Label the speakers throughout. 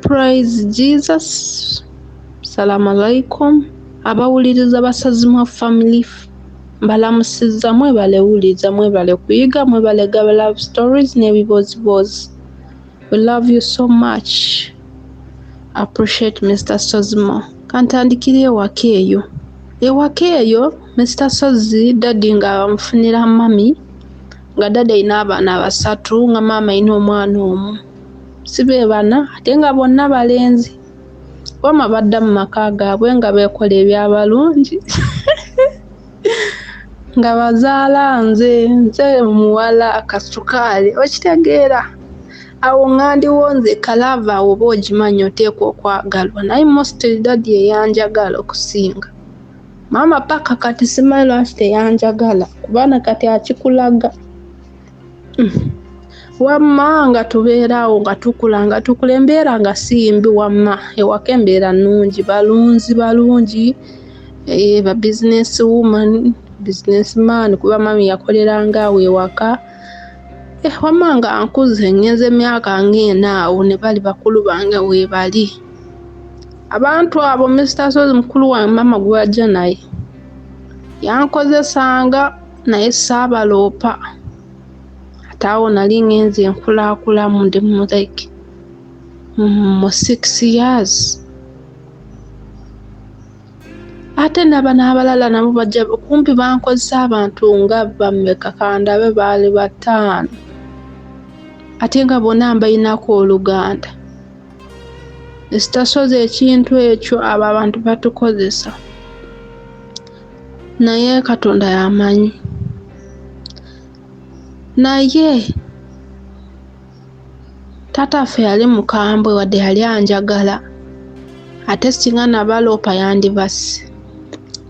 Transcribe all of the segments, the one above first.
Speaker 1: Praise Jesus. Salamu alaikum. Abawuliriza Basazimwa Family mbalamusizza mwebale wuliriza mwebale kuyiga mwebale gaba love stories n'ebibooziboozi. We love you so much. Appreciate Mr. Sozimo. Kantandikira ewaka eyo. Ewaka eyo Mr. Sozi daddy nga amufunira mami nga daddy alina abaana basatu nga maama alina omwana omu. si be bana ate nga bonna balenzi wama badda mu maka gaabwe nga beekola ebyabalungi nga bazaala nze nze omuwala akasukaali okitegeera awo ŋandiwo nze kalaava awo oba ogimanyi oteekwa okwagalwa naye mostly dadi eyanjagala okusinga maama paka kati simanyi lwaki teyanjagala kubaana kati akikulaga wamma nga tubeeraawo nga tukula nga tukula embeera nga siyimbi wamma ewaka embeera nnungi balunzi balungi eh, ba business woman business man kuba mami yakoleranga awo ewaka eh, wamma nga nkuze ngenza emyaka ngaena awo ne bali bakulu bange webali abantu abo mr sozi mukulu wange mama gwajja naye yankozesanga naye saabaloopa ate awo nali ngenze nkulaakulamu ndi mu like mu six years ate naba n'abalala nabo bajja kumpi bankozesa abantu nga bameka kandabe baali bataano ate nga bona mbalinako oluganda ekitasozi ekintu ekyo abo abantu batukozesa naye katonda yamanyi naye taata ffe yali mukambwe wadde yali anjagala ate singa nabaloopa yandibasi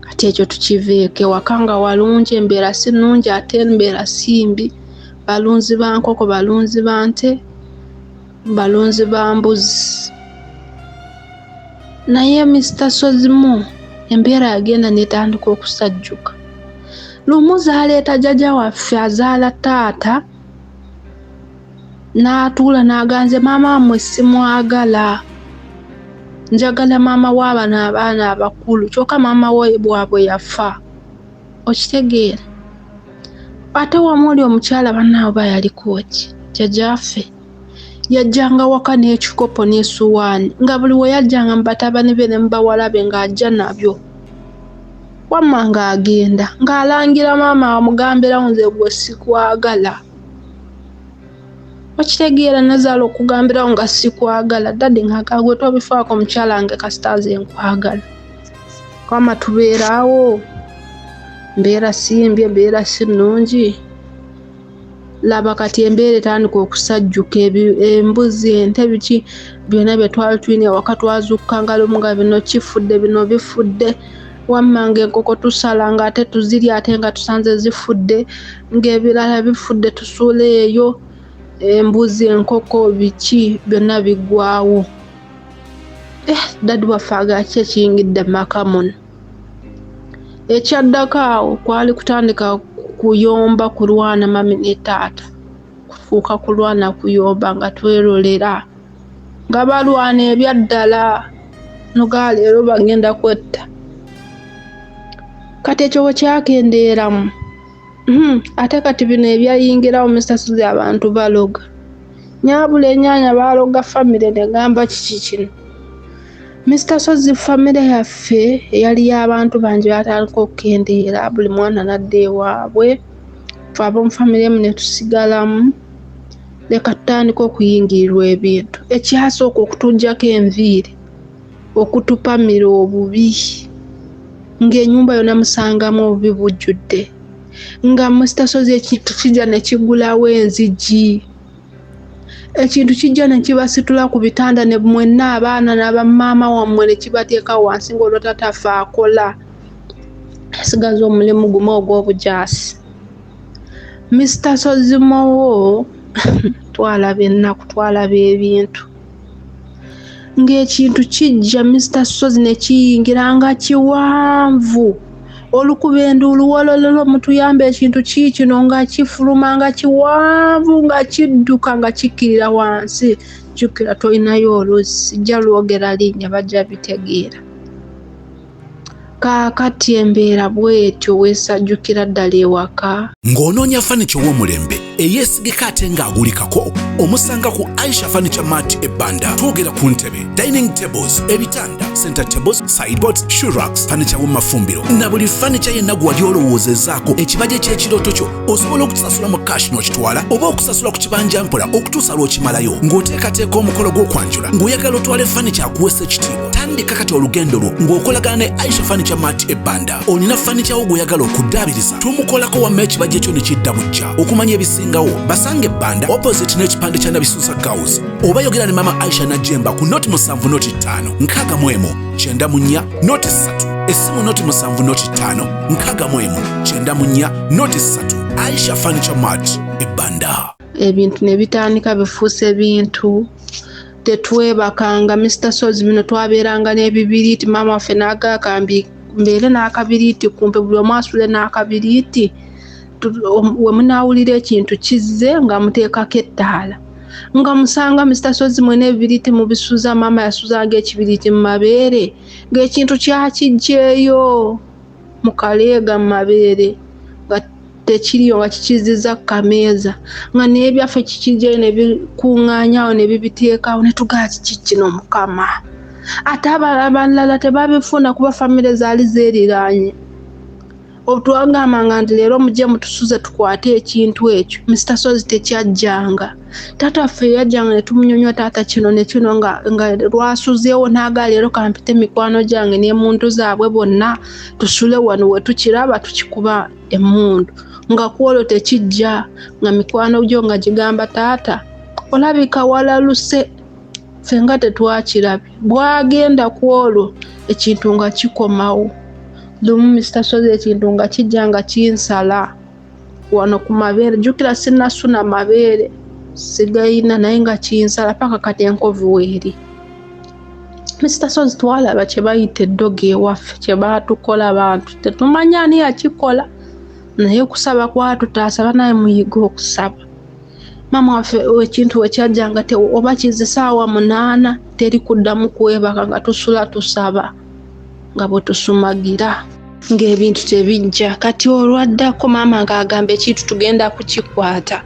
Speaker 1: kati ekyo tukiveeko ewaka nga walungi embeera si nungi ate embeera simbi balunzi bankoko balunzi bante balunzi ba mbuzi naye Mister Sozimu embeera yagenda netandika okusajjuka lumu zaleeta jaja waffe azaala taata n'atuula n'aganze maama wamwe simwagala njagala maama w'abano abaana abakulu kyokka maama wabwe yafa okitegeera ate wamu oli omukyala bannaabo bayaliko ki jajaffe yajjanga waka n'ekikopo n'esuwaani nga buli we yajjanga mu batabani be ne mu bawala be ng'ajja nabyo wamma ng'agenda ng'alangira maama amugambirawo nze gwe sikwagala okitegeera nazaala okugambirawo nga sikwagala dadi ng'agaa gwe tobifaako mukyala nge kasita nze nkwagala wamma tubeeraawo mbeera simbye mbeera si nnungi laba kati embeera etandika okusajjuka embuzi ente biki byonna bye twali tulina ewaka twazukka nga lumu nga bino kifudde bino bifudde wammanga enkoko tusala nga ate tuziri ate nga tusanze zifudde ng'ebirala bifudde tusuula eyo embuzi enkoko biki byonna biggwawo eh, daddy waffe agaki ekiyingidde maka muno Ekyaddako awo kwali kutandika kuyomba kulwana mami ne taata kufuuka kulwana kuyomba nga twerolera nga balwana ebyaddala noga leero bagenda kwetta kati ekyo bwekyakendeeramu Hmm, ate kati bino ebyayingirawo musasuzi abantu baloga nyabula enyanya baloga famire negamba kiki kino Mr. Sozi famire yaffe eyali y'abantu bangi batandika okukendeera buli mwana nadda ewaabwe fe ab'omu famire emu ne tusigalamu leka tutandika okuyingirirwa ebintu ekyasooka okutujjako enviiri okutupamira obubi ng'enyumba yona musangamu obubi bujjudde nga musitasozi ekintu kijja ne kigulawo enzigi ekintu kijja ne kibasitula ku bitanda ne mwenna abaana nabamaama wammwe ne kibateeka wansi ng'olwo tatafe akola asigaza omulimu gumu ogw'obujaasi misita sozimowo twalaba ennaku twalaba ebintu ng'ekintu kijja Mister Ssozi ne kiyingira nga kiwanvu olukuba enduulu wolololo mutuyambe ekintu kiikino nga kifuluma nga kiwanvu nga kidduka nga kikkirira wansi jjukira tolinayo oluzzi jja lwogera linnya bajja bitegeera Kaakati embeera bw'etyo weesajjukira ddala ewaka? Ng'onoonya fanica
Speaker 2: ow'omulembe eyeesigika ate ng'agulikako omusanga ku Aisha Furniture Mart e Banda. Twogera ku ntebe, dining tables, ebitanda, center tables, sideboards, shoe racks, fanica w'omumafumbiro na buli fanica yenna gwe wali olowoozezaako ekibajje ky'ekirooto kyo. Osobola okutusasula mu kashi n'okitwala oba okusasula ku kibanja mpola okutuusa lw'okimalayo. Ng'oteekateeka omukolo gw'okwanjula ng'oyagala otwale fanica akuweesa ekitiibwa. tandika kati olugendo lwo ng'okolagana ne aisha fanicha mart ebbanda olina fanicha wo gweyagala okuddaabiriza tumukolako wamma ekibajja ekyo ne kidda bujja okumanya ebisingawo basanga ebbanda opposite n'ekipande kya nabisuusa gaus oba yogera ne mama aisha najemba ku noti musanvu noti ttaano nkaaga mu emu kyenda mu nnya noti ssatu essimu noti musanvu noti ttaano nkaaga mu emu kyenda mu nnya noti ssatu aisha fanicha mart ebbanda ebintu ne
Speaker 1: bitandika bifuuse bintu tetwebakanga Mr Sozi bino twabeeranga n'ebibiriiti maama waffe n'agakambi mbeere n'akabiriiti kumpe buli omu asule n'akabiriiti we munaawulira ekintu kizze nga muteekako ettaala nga musanga Mr Sozi mwena ebibiriiti mubisuza maama yasuzanga ekibiriiti mu mabeere ng'ekintu kyakijjeeyo mu kaleega mu mabeere tekiri oba kikizizza ku kameeza nga naye byaffe kikijjayo ne bikuŋŋaanyawo ne bibiteekawo ne tugaa kiki kino mukama ate abalala tebabifuna kuba famire zaali zeeriraanye otwagambanga nti leero mujje mutusuze tukwate ekintu ekyo mr sozi tekyajjanga taata ffe yajjanga ne tumunyonywa taata kino ne kino nga, nga lwasuzeewo naaga leero kampite mikwano gyange ne muntu zaabwe bonna tusule wano we tukiraba tukikuba emmundu nga kwolwo tekijja nga mikwano gyo nga gigamba taata olabika walaluse ffe nga tetwakirabye bwagenda ku olwo ekintu nga kikomawo lumu mister sozi ekintu nga kijja nga kinsala wano ku mabeere jjukira sinasuna mabeere sigayina naye nga kinsala paka kati enkovu weeri Mr. Sozi twalaba kye bayita eddogo ewaffe kye baatukola bantu tetumanya ani yakikola naye okusaba kwatutaasa banaye muyiga okusaba maama waffe ekintu wekyajja nga oba kize saawa munaana teri kuddamu kwebaka nga tusula tusaba nga bwe tusumagira ng'ebintu tebijja kati olwaddako maama ng'agamba ekintu tugenda kukikwata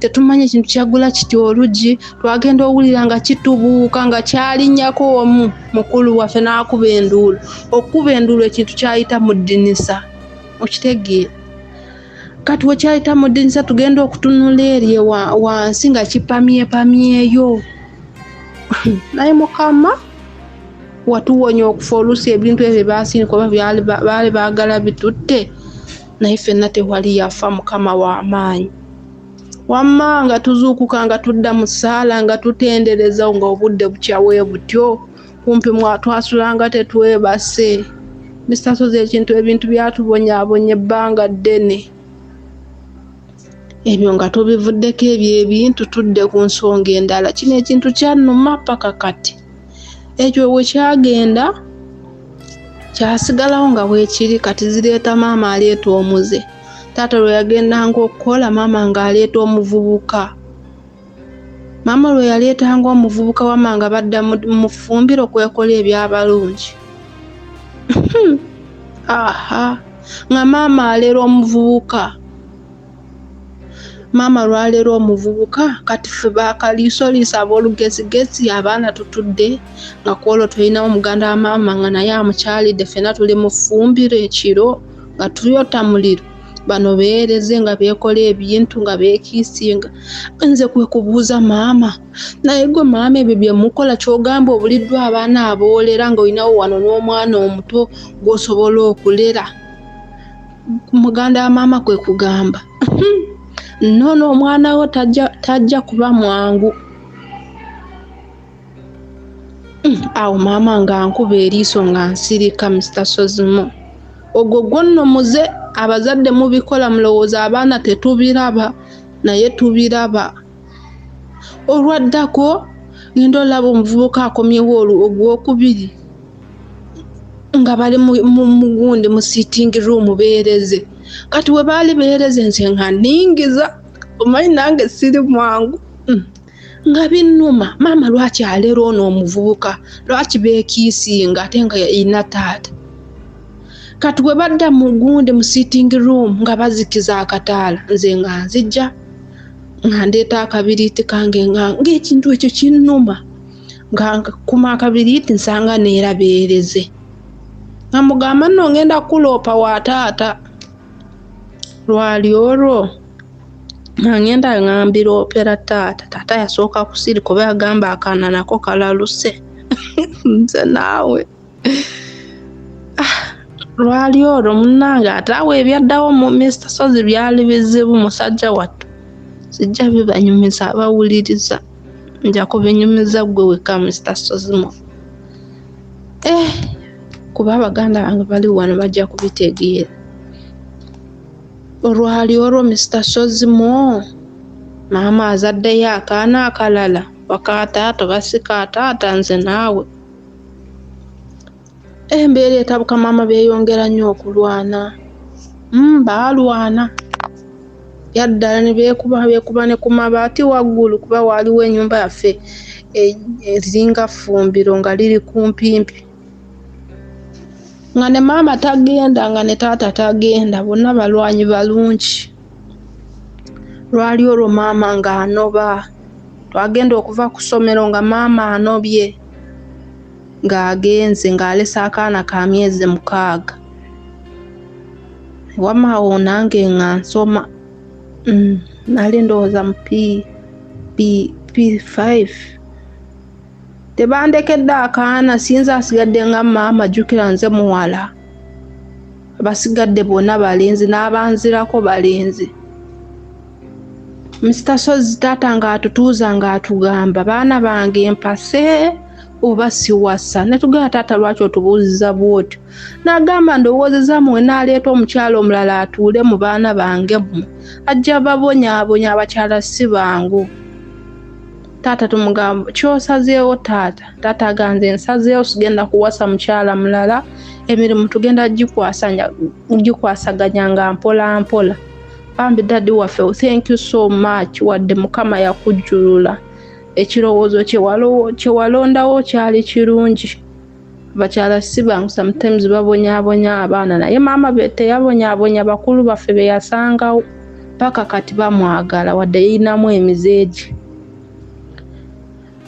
Speaker 1: tetumanyi ekintu kyagula kiti olugi twagenda owulira nga kitubuuka nga kyalinnyako omu mukulu waffe n'akuba enduulu okukuba enduulu ekintu kyayita mu ddinisa okitegeera kati wekyayita mu ddinisa tugenda okutunula erye wansi nga kipamyepamyeyo naye mukama watuwonya okufa oluusi ebintu ebyo basinikoba baali baagala bitutte naye fenna tewali yafa mukama wamaanyi wamma nga tuzuukuka nga tudda mu ssaala nga tutendereza nga obudde bukyawe butyo kumpi mwatwasulanga tetwebase misasozi ekintu ebintu byatubonyabonya ebbanga ddene ebyo nga tubivuddeko ebyo ebintu tudde ku nsonga endala kino ekintu kyanuma paka kati ekyo bwe kyagenda kyasigalawo nga bwekiri kati zireeta maama aleeta omuze taata lwe yagendanga okukola maama ng'aleeta omuvubuka maama lwe yaleetanga omuvubuka wama nga badda mu fumbiro kwekola ebyabalungi aha nga maama alera omuvubuka maama lwaleero omuvubuka kati fe bakaliisoliisa ab'olugezigezi abaana tutudde nga kwolwo tulinawo omuganda wa maama nga naye amukyalidde fena tuli mu ffumbiro ekiro nga tuyota muliro bano beereze nga beekola ebintu nga beekiisinga nze kwe kubuuza maama naye gwe maama ebyo bye mukola ky'ogamba obuliddwa abaana aboolera nga olinawo wano n'omwana omuto gw'osobola okulera muganda wa maama kwe kugamba nono omwana wo tajja kuba mwangu hmm, awo maama nga nkuba eriiso nga nsirika mr sozimo ogwo gwonno muze abazadde mubikola mulowooza abaana tetubiraba naye tubiraba olwaddako ngenda olaba omuvubuka akomyewo ogwokubiri nga bali mugundi mu sitting room beereze kati we baali beereze nze nga ningiza omanyi nange siri mwangu mm. nga binnuma maama lwaki aleero ono omuvubuka lwaki beekiisinga ate nga yalina taata kati we badda mu gundi mu sitting room nga bazikiza akataala nze nga nzijja nga ndeeta akabiriiti kange nga ngaekintu ekyo kinnuma nga nkuma akabiriiti nsanga neera beereze nga mugamba nno ngenda kukuloopa wa taata lwali olwo nga ngenda nga mbiroopera taata taata yasooka kusirika oba yagamba akaana nako kalaluse nze naawe Ah, lwali olwo munange ate awo ebyaddawo mu mista sozi byali bizibu musajja wattu sijja bibanyumiza abawuliriza nja kubinyumiza gwe wekka mista sozimo eh, kuba abaganda bange bali wano bajja kubitegeera olwali olwo mista sozimo maama azaddeyo akaana akalala wakaataata oba si kaataata nze naawe Embeera etabuka maama beeyongera nnyo okulwana mm, baalwana yaddala ne beekuba beekuba ne ku mabaati waggulu kuba waaliwo ennyumba yaffe e, ezinga ffumbiro nga liri kumpimpi nga ne maama tagenda nga ne taata tagenda bonna balwanyi balungi lwali olwo maama ng'anoba twagenda okuva ku ssomero nga maama anobye ng'agenze ng'alese akaana ka myezi mukaaga wama awo nange nga nsoma mm, nali ndowooza mu p5 tebandekedde akaana sinza asigadde nga maama jukira nze muwala abasigadde bonna balenzi n'abanzirako balenzi Mr. Sozi taata ng'atutuuza ng'atugamba baana bange mpase oba siwasa netugamba taata lwaki otubuuziza bwotyo nagamba ndowoozeza muwe naleeta omukyala omulala atuule mu baana bange mwe ajja babonyabonya abakyala si bangu taata tumugamba kyosazeewo taata taata aganze nsazeewo sigenda kuwasa mukyala mulala emirimu tugenda gikwasaganya nga mpola mpola bambi dadi waffe oh, thank you so much wadde mukama yakujjulula ekirowoozo kyewalondawo kyali kirungi bakyala si bangu sometimes babonyabonya abaana naye maama be teyabonyabonya bakulu baffe beyasangawo paka kati bamwagala wadde yinamu emizeegi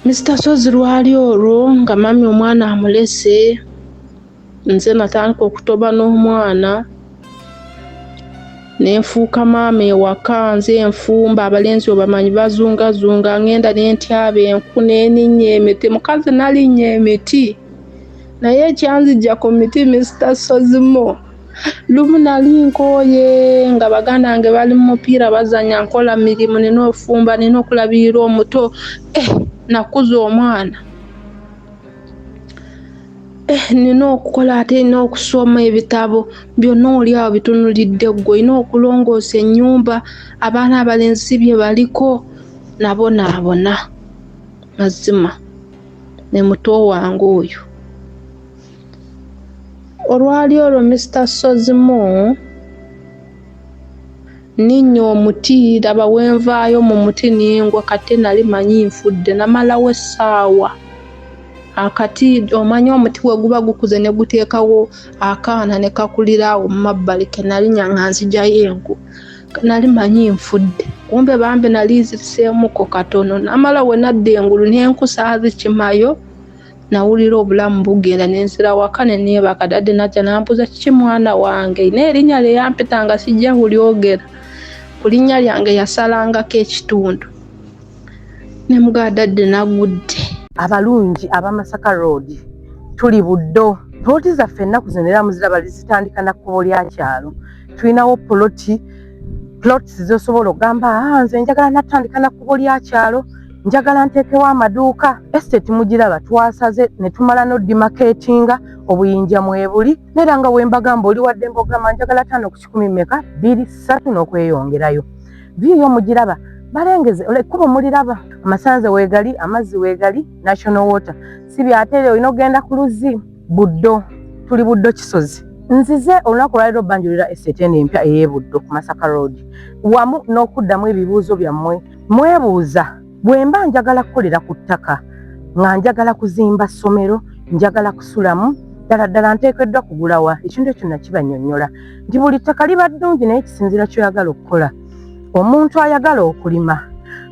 Speaker 1: mr sozi lwali olwo nga mami omwana amulese nze natandika okutoba n'omwana nenfuuka maama ewaka nze enfumba abalenzi obamanyi bazungazunga ngenda nentyaba enku neninya emiti mukazi nalinya emiti naye ekyanzija ku miti mister sozimo lumu nali nkooye nga baganda nge bali mu mupiira bazanya nkola mirimu nina ofumba nina okulabirira omuto eh, nakuza omwana Eh, nina okukola ate nina okusoma ebitabo byonna oli awo bitunulidde ggwe olina okulongoosa ennyumba abaana abalenzi bye baliko nabo naabona mazima ne muto wange oyo olwali olwo mister sozimu Nninnya omuti, laba we nvaayo mu muti ne ngwa kate nali manyi nfudde namalawo essaawa. Akati, omanyi omuti we guba gukuze ne guteekawo akaana ne kakulira awo mu mabbali ke nalinnya nga nzigyayo enku nali manyi nfudde kumbe bambi nali nziriseemuko katono namala we nadda engulu n'enku saazikimayo. nawulira obulamu bugenda nensira waka neneebaka dadde najja nambuuza kiki mwana wange naye erinnya lye yampita nga sijja kulyogera ku linnya lyange yasalangako ekitundu ne mugaa dadde nagudde abalungi
Speaker 3: abamasaka road tuli buddo poloti zaffe ennaku zino era muziraba zitandika na kkubo lya kyalo tulinawo poloti plots zosobola okugamba ah, nze njagala natandika na kkubo lya kyalo njagala nteekewo amaduuka estate mugiraba twasaze ne tumala nodimaketinga obuyinja mwebuli neera nga wembagamba oli wadde mbogamba njagala taano ku kikumi meka biri ssatu n'okweyongerayo view yo mugiraba balengeze ekkubo muliraba amasanze weegali amazzi weegali national water si byateere olina okugenda ku luzzi buddo tuli buddo kisozi nzize olunaku olwaliro banjulira estate eno empya ey'ebuddo ku masaka road wamu n'okuddamu ebibuuzo byammwe Mwebuuza, bwe mba njagala kukolera ku ttaka nga njagala kuzimba ssomero, njagala kusulamu, ddala ddala nteekeddwa kugulawa? Ekintu ekyo nakibannyonnyola nti buli ttaka liba ddungi naye kisinziira ky'oyagala okukola. Omuntu ayagala okulima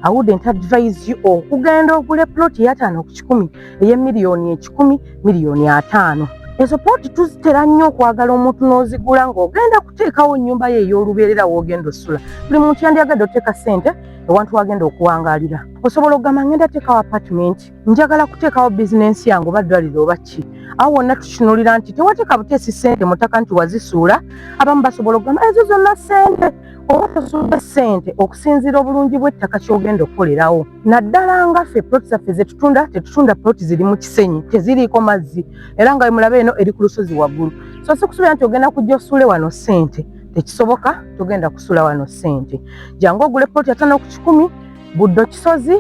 Speaker 3: I wouldn't advise you okugenda ogule plot yataano ku kikumi eye miliyoni ekikumi miliyoni ataano ezo pooti tuzitera nnyo okwagala omuntu n'ozigula ng'ogenda kuteekawo nnyumba ye ey'olubeerera w'ogenda osula buli muntu yandyagadde oteeka ssente ewantu wagenda okuwangalira osobola okugamba ngenda teekawo apartment njagala kuteekawo bizinensi yange oba ddwaliro oba ki awo wonna tukinulira nti tewateeka buteesi ssente mutaka nti wazisuula abamu basobola okugamba ezo zonna ssente oba tosuubira ssente okusinziira obulungi bw'ettaka ky'ogenda okukolerawo naddala nga ffe poloti zaffe zetutunda tetutunda poloti ziri mu kisenyi teziriiko mazzi era nga wemulaba eno eri ku lusozi waggulu so si kusuubira nti ogenda kujja osuule wano ssente tekisoboka togenda kusula wano ssente jangu ogule poloti atano ku kikumi buddo kisozi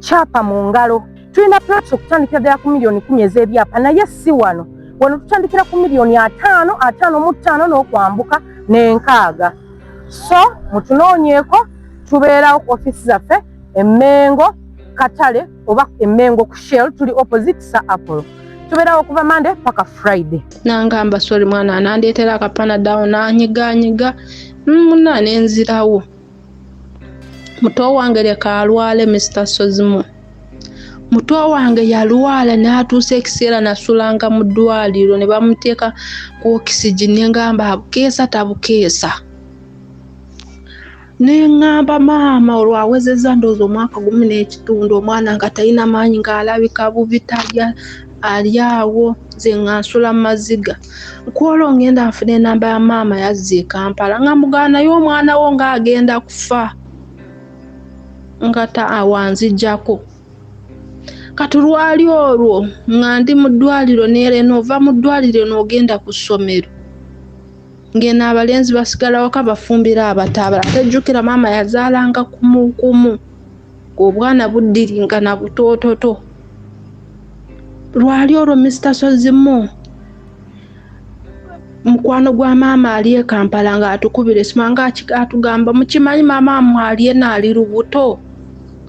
Speaker 3: kyapa mu ngalo tulina plans okutandikira ddala ku miliyoni kumi ez'ebyapa naye si wano wano tutandikira ku miliyoni ataano ataano mu ttaano n'okwambuka n'enkaaga so mutunoonyeeko tubeerawo ku ofiisi zaffe emmengo katale oba emmengo ku shell tuli opposite sa apollo tubeerawo okuva mande paka friday nangamba sori
Speaker 1: mwana anandeetera akapana dawo nanyiganyiga mm, muna nenzirawo muto wange leka alwale mr sozimu muto wange yalwala n'atuusa ekiseera nasulanga mu ddwaliro ne bamuteeka ku okisigi ne ngamba abukeesa tabukeesa ne ngamba maama olwo awezezza ndowooza omwaka gumu n'ekitundu omwana nga talina maanyi ng'alabika bubi talya ali awo nze nga nsula maziga kwolwo ngenda nfuna enamba ya maama yazza ekampala nga mugana naye omwana wo nga agenda kufa nga ta awanzijjako kati lwali olwo nga ndi mu ddwaliro neera enoova mu ddwaliro noogenda ku ssomero ng'eno abalenzi basigala waka bafumbira abataabala tejjukira maama yazaalanga kumukumu obwana buddiringana butoototo lwali olwo mr sozimo mukwano gwa maama ali e kampala ng'atukubira esima ngaatugamba mukimanyi maama amwe ali ena ali lubuto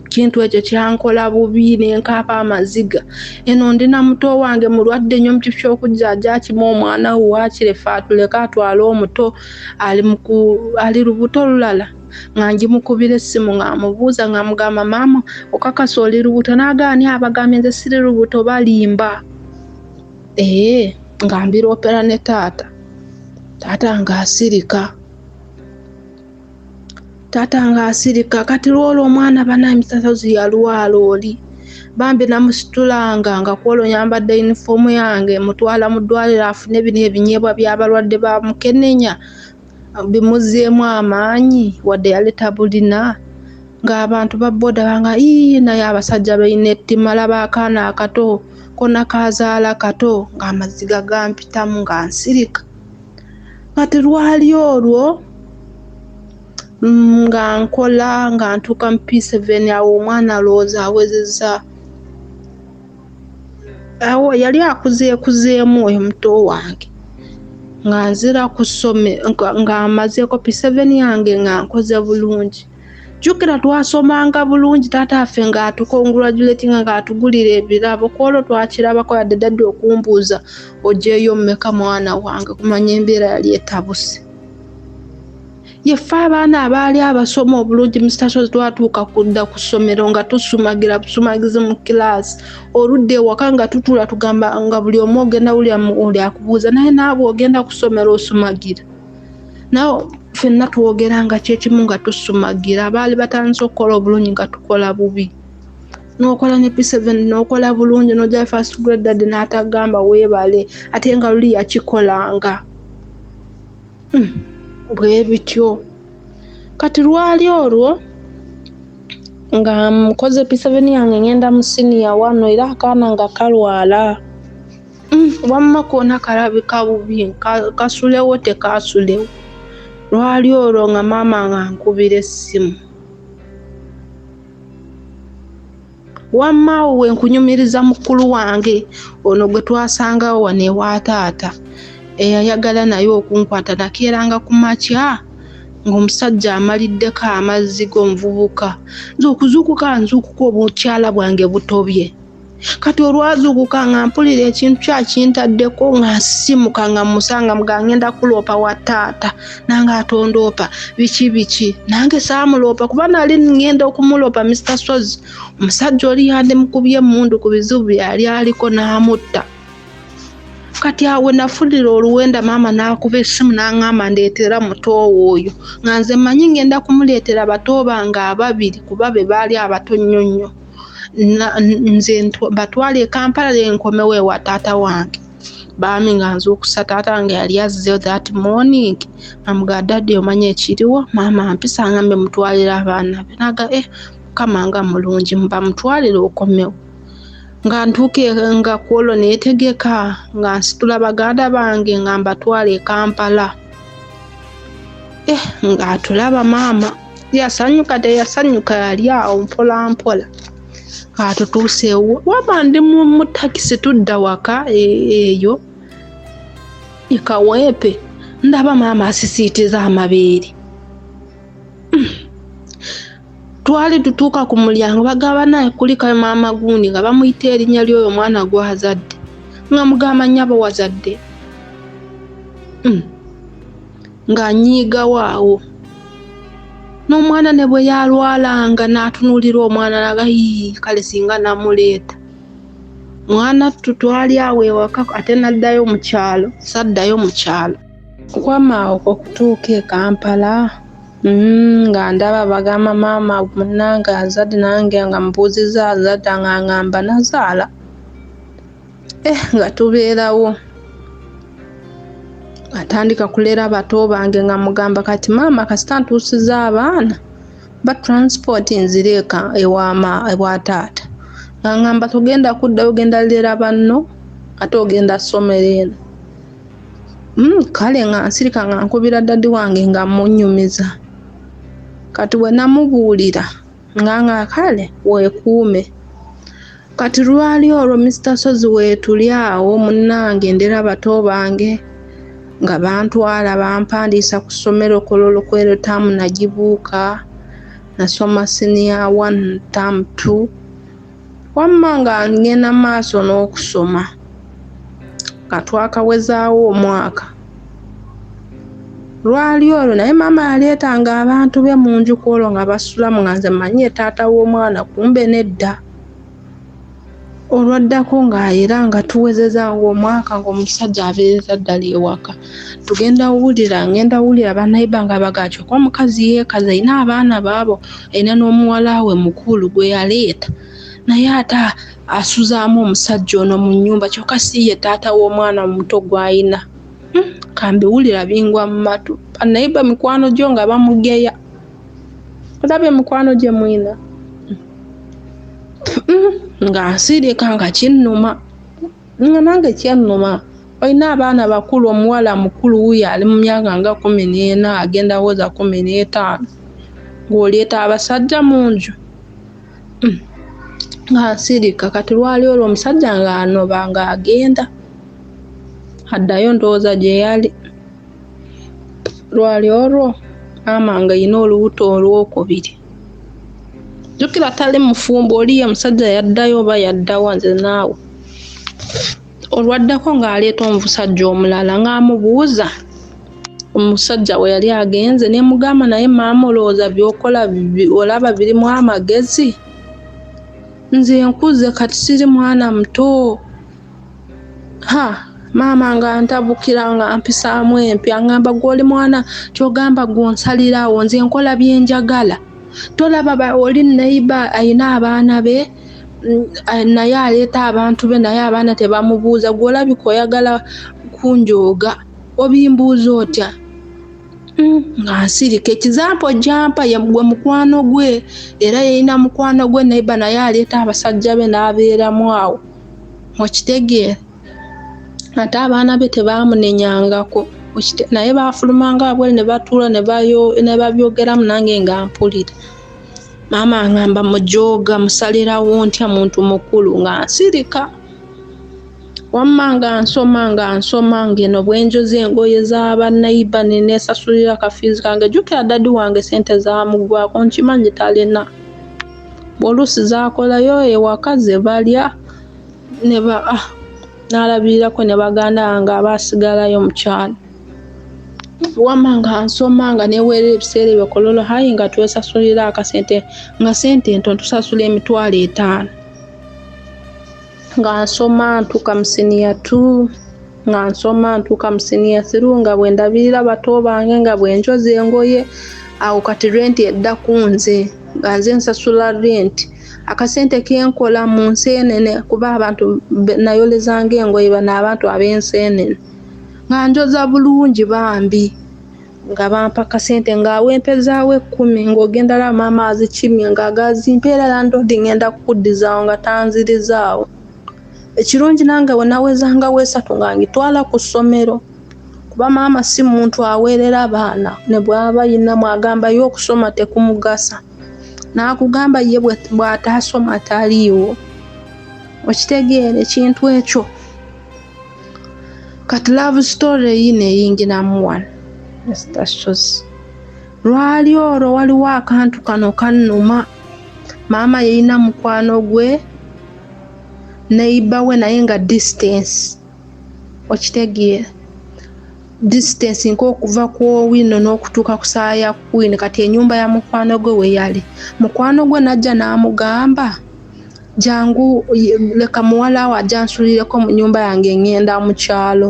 Speaker 1: kintu ekyo kyankola bubi nenkaaba amaziga eno ndi na muto wange mulwadde nnyo mukifo kyokujjajakima omwana we wakirefe atuleke atwale omuto ali lubuto lulala nga ngimukubira essimu ng'amubuuza ng'amugamba maama okakasa oli lubuto n'agaani abagambye nze siri lubuto balimba ee eh, nga mbiroopera ne taata taata ng'asirika taata ng'asirika kati lwolwo omwana banaye misasazi yalwala oli bambi namusitulanga nga kwolwo nyambadde yunifoomu yange mutwala mu ddwaliro afune bino ebinyeebwa by'abalwadde ba mukenenya bimuzzeemu amaanyi wadde yali tabulina ng'abantu ba boda banga ii naye abasajja balina ettima laba akaana akato kona kaazaala kato ng'amaziga gampitamu nga nsirika kati lwali olwo mm, nga nkola nga ntuuka mu p7 awo omwana alowooza awezezza awo yali akuzeekuzeemu oyo muto wange nga nzira ku ssome nga mazeeko piseveni yange nga nkoze bulungi jjukira twasomanga bulungi taata affe ng'atukongratulatinga ng'atugulira ebirabo ku olwo twakirabako yadde dadde okumbuuza ogyeyo mmeka mwana wange kumanya embeera yali etabuse yeffe abaana abaali abasoma obulungi musitaso twatuuka kudda ku ssomero nga tusumagira busumagizi mu kilaasi oludda ewaka nga tutula tugamba nga buli omu ogenda wuli akubuuza naye naabwe ogenda ku ssomero osumagira nawe fenna twogera nga kyekimu nga tusumagira abaali batandise okukola obulungi nga tukola bubi nokola ne p7 nokola bulungi noja first grade dad n'atagamba weebale ate nga luli yakikolanga Hmm, bwe bityo kati lwali olwo nga nkoze p7 yange ngenda mu siniya wano era akaana nga kalwala hmm, wamma koona kalabika bubi kasulewo tekasulewo lwali olwo nga maama nga nkubira essimu wamma we nkunyumiriza mukulu wange ono gwe twasangawo wano ewa taata eyayagala naye okunkwata nakeeranga ku makya ng'omusajja amaliddeko amazzi g'omuvubuka nze okuzuukuka nzuukuka obukyala bwange butobye kati olwazuukuka nga mpulira ekintu kyakintaddeko nga nsimuka nga musanga mugangenda kuloopa wa taata nange atondoopa biki biki nange saamuloopa kuba nali ngenda okumuloopa mr sozi omusajja oli yandi mukubye emundu ku bizibu byeyali aliko n'amutta kati awe nafulira oluwenda maama n'akuba essimu n'aŋŋamba ndeetera mutoowo oyo nga nze mmanyi ngenda kumuleetera bato bange ababiri kuba be baali abato nnyo nnyo nze batwala e kampala enkomewo ewa taata wange baami nga nzuukusa taata wange yali azzeyo that morning amuga daddy omanya ekiriwo maama mpisa nga mbe mutwalira abaana be naga e eh, mukama nga mulungi mubamutwalire okomewo nga ntuuka e, nga kwolwo neetegeka nga nsitula baganda bange nga mbatwala e kampala eh ng'atulaba maama yasanyuka teyasanyuka yali awo mpolampola atutuuseewo waba ndi mu takisi tudda waka e, eyo ekaweepe ndaba maama asisiitiza amabeere hmm. twali tutuuka ku mulyango bagamba naye kulikayo maama gundi nga bamuyita erinnya ly'oyo omwana gwazadde nga mugamba nyabo wazadde hmm. ng'anyiigawo awo n'omwana ne bwe yalwalanga n'atunuulira omwana naga yii kale singa namuleeta mwana ttu twali awo ewaka ate naddayo mu kyalo saddayo mu kyalo okwama okwo okutuuka e kampala mm, nga ndaba bagamba maama munange azadde nange nga mubuuziza azadde nga ngamba nazaala eh, nga tubeerawo atandika kulera bato bange nga mugamba kati maama kasita ntuusiza abaana ba transport nzire eka ewama ewa taata nga ngamba togenda kudda ogenda lera banno ate ogenda somero eno mm, kale nga nsirika nga nkubira dadi wange nga munyumiza kati wenamubuulira nga nga kale weekuume kati lwali olwo Mister Sozi weetuli awo munnange ndera bato bange nga bantwala bampandiisa ku ssomero kololokwero taamu nagibuuka nasoma siniya one taamu two Wamma nga ngenda maaso n'okusoma nga twakawezaawo omwaka lwali olwo naye maama yaleetanga abantu be mu nju ku olwo nga basulamu nga nze manyi ye taata w'omwana kumbe nedda olwaddako nga era nga tuwezeza ngaomwaka ngaomusajja abeerera ddala ewaka tugenda wulira ngenda wulira banayiba nga bagakyo kuba mukazi yeekaza alina abaana baabo alina n'omuwala we mukulu gwe yaleeta naye ate asuzaamu omusajja ono mu nnyumba kyokka si ye taata w'omwana omuto gw'alina hmm, kambiwulira bingwa mu matu banayiba mikwano gyo nga bamugeya olaba emikwano gye mwina hmm, hmm, nga nsirika nga kinnuma nga nange kyannuma olina abaana bakulu omuwala mukulu wuyo ali mu myaka nga kumi n'ena agenda woza kumi n'etaano ng'oleeta abasajja mu nju hmm. nga nsirika kati lwali olwo omusajja ng'anoba ng'agenda addayo ndowooza gye yali lwali olwo maama nga yina olubuto olwokubiri jukira atali mufumbo oliyo omusajja yaddayo oba yaddawa nze naawe olwaddako ng'aleeta omusajja omulala ng'amubuuza omusajja we yali agenze ne mugamba naye maama olowooza byokola olaba birimu amagezi nze nkuze kati siri mwana muto ha maama nga ntabukira nga mpisaamu empya ngamba gwoli mwana kyogamba gwonsalirawo nze nkola byenjagala tolaba oli neiba ayina abaana be mm, eh, naye aleeta abantu be naye abaana tebamubuuza gwolabika oyagala kunjooga obimbuuza otya mm, nga nsirika ekizampa ojampa yegwe mukwano gwe era yeyina mukwano gwe neiba naye aleeta abasajja be n'abeeramu awo okitegeera ate abaana be tebaamunenyangako naye baafulumanga wabwere ne batuula ne babyogeramu nange nga mpulira maama ngamba mujooga musalirawo ntya muntu mukulu nga nsirika wamma nga nsoma nga nsoma ngeno bwenjoza engoye zabanaiba nenesasulira kafiizi kange jukira dadi wange sente zamugwako nkimanyi talina oluusi zakolayo ewaka ze balya ne ba ah, n'alabirirako ne baganda bange abaasigalayo mu kyalo wamma nga nsoma nga neweerera ebiseera ebyo kololo hayi nga twesasulira akasente nga sente ntono tusasula emitwalo etaano nga nsoma ntuuka mu siniya tu nga nsoma ntuuka mu siniya siru nga bwe ndabirira bato bange nga bwe njoza engoye awo kati renti edda ku nze nga nze nsasula renti akasente kenkola mu nseenene kuba abantu nayolezanga engoye bano abantu ab'enseenene nga njoza bulungi bambi nga bampa kasente nga awempezaawo ekkumi ng'ogenda laba maama azikimye nga agazimpa era landodi ngenda kukuddizaawo nga tanzirizaawo ekirungi nange bwe nawezanga weesatu nga ngitwala ku ssomero kuba maama si muntu aweerera baana ne bwaba yinamu agambayo okusoma tekumugasa n'akugamba ye bw'ataasoma taliiwo okitegeera ekintu ekyo kati love story eyi neyingiramu wano esitasozi lwali olwo waliwo akantu kano kannuma maama yeyina mukwano gwe neiba we naye nga distance okitegeera distance nkokuva ku owino n'okutuuka ku saa ya kwini kati enyumba ya mukwano gwe weyali mukwano gwe najja n'amugamba jangu leka muwalaawo ajansulireko mu nyumba yange ngenda mu kyalo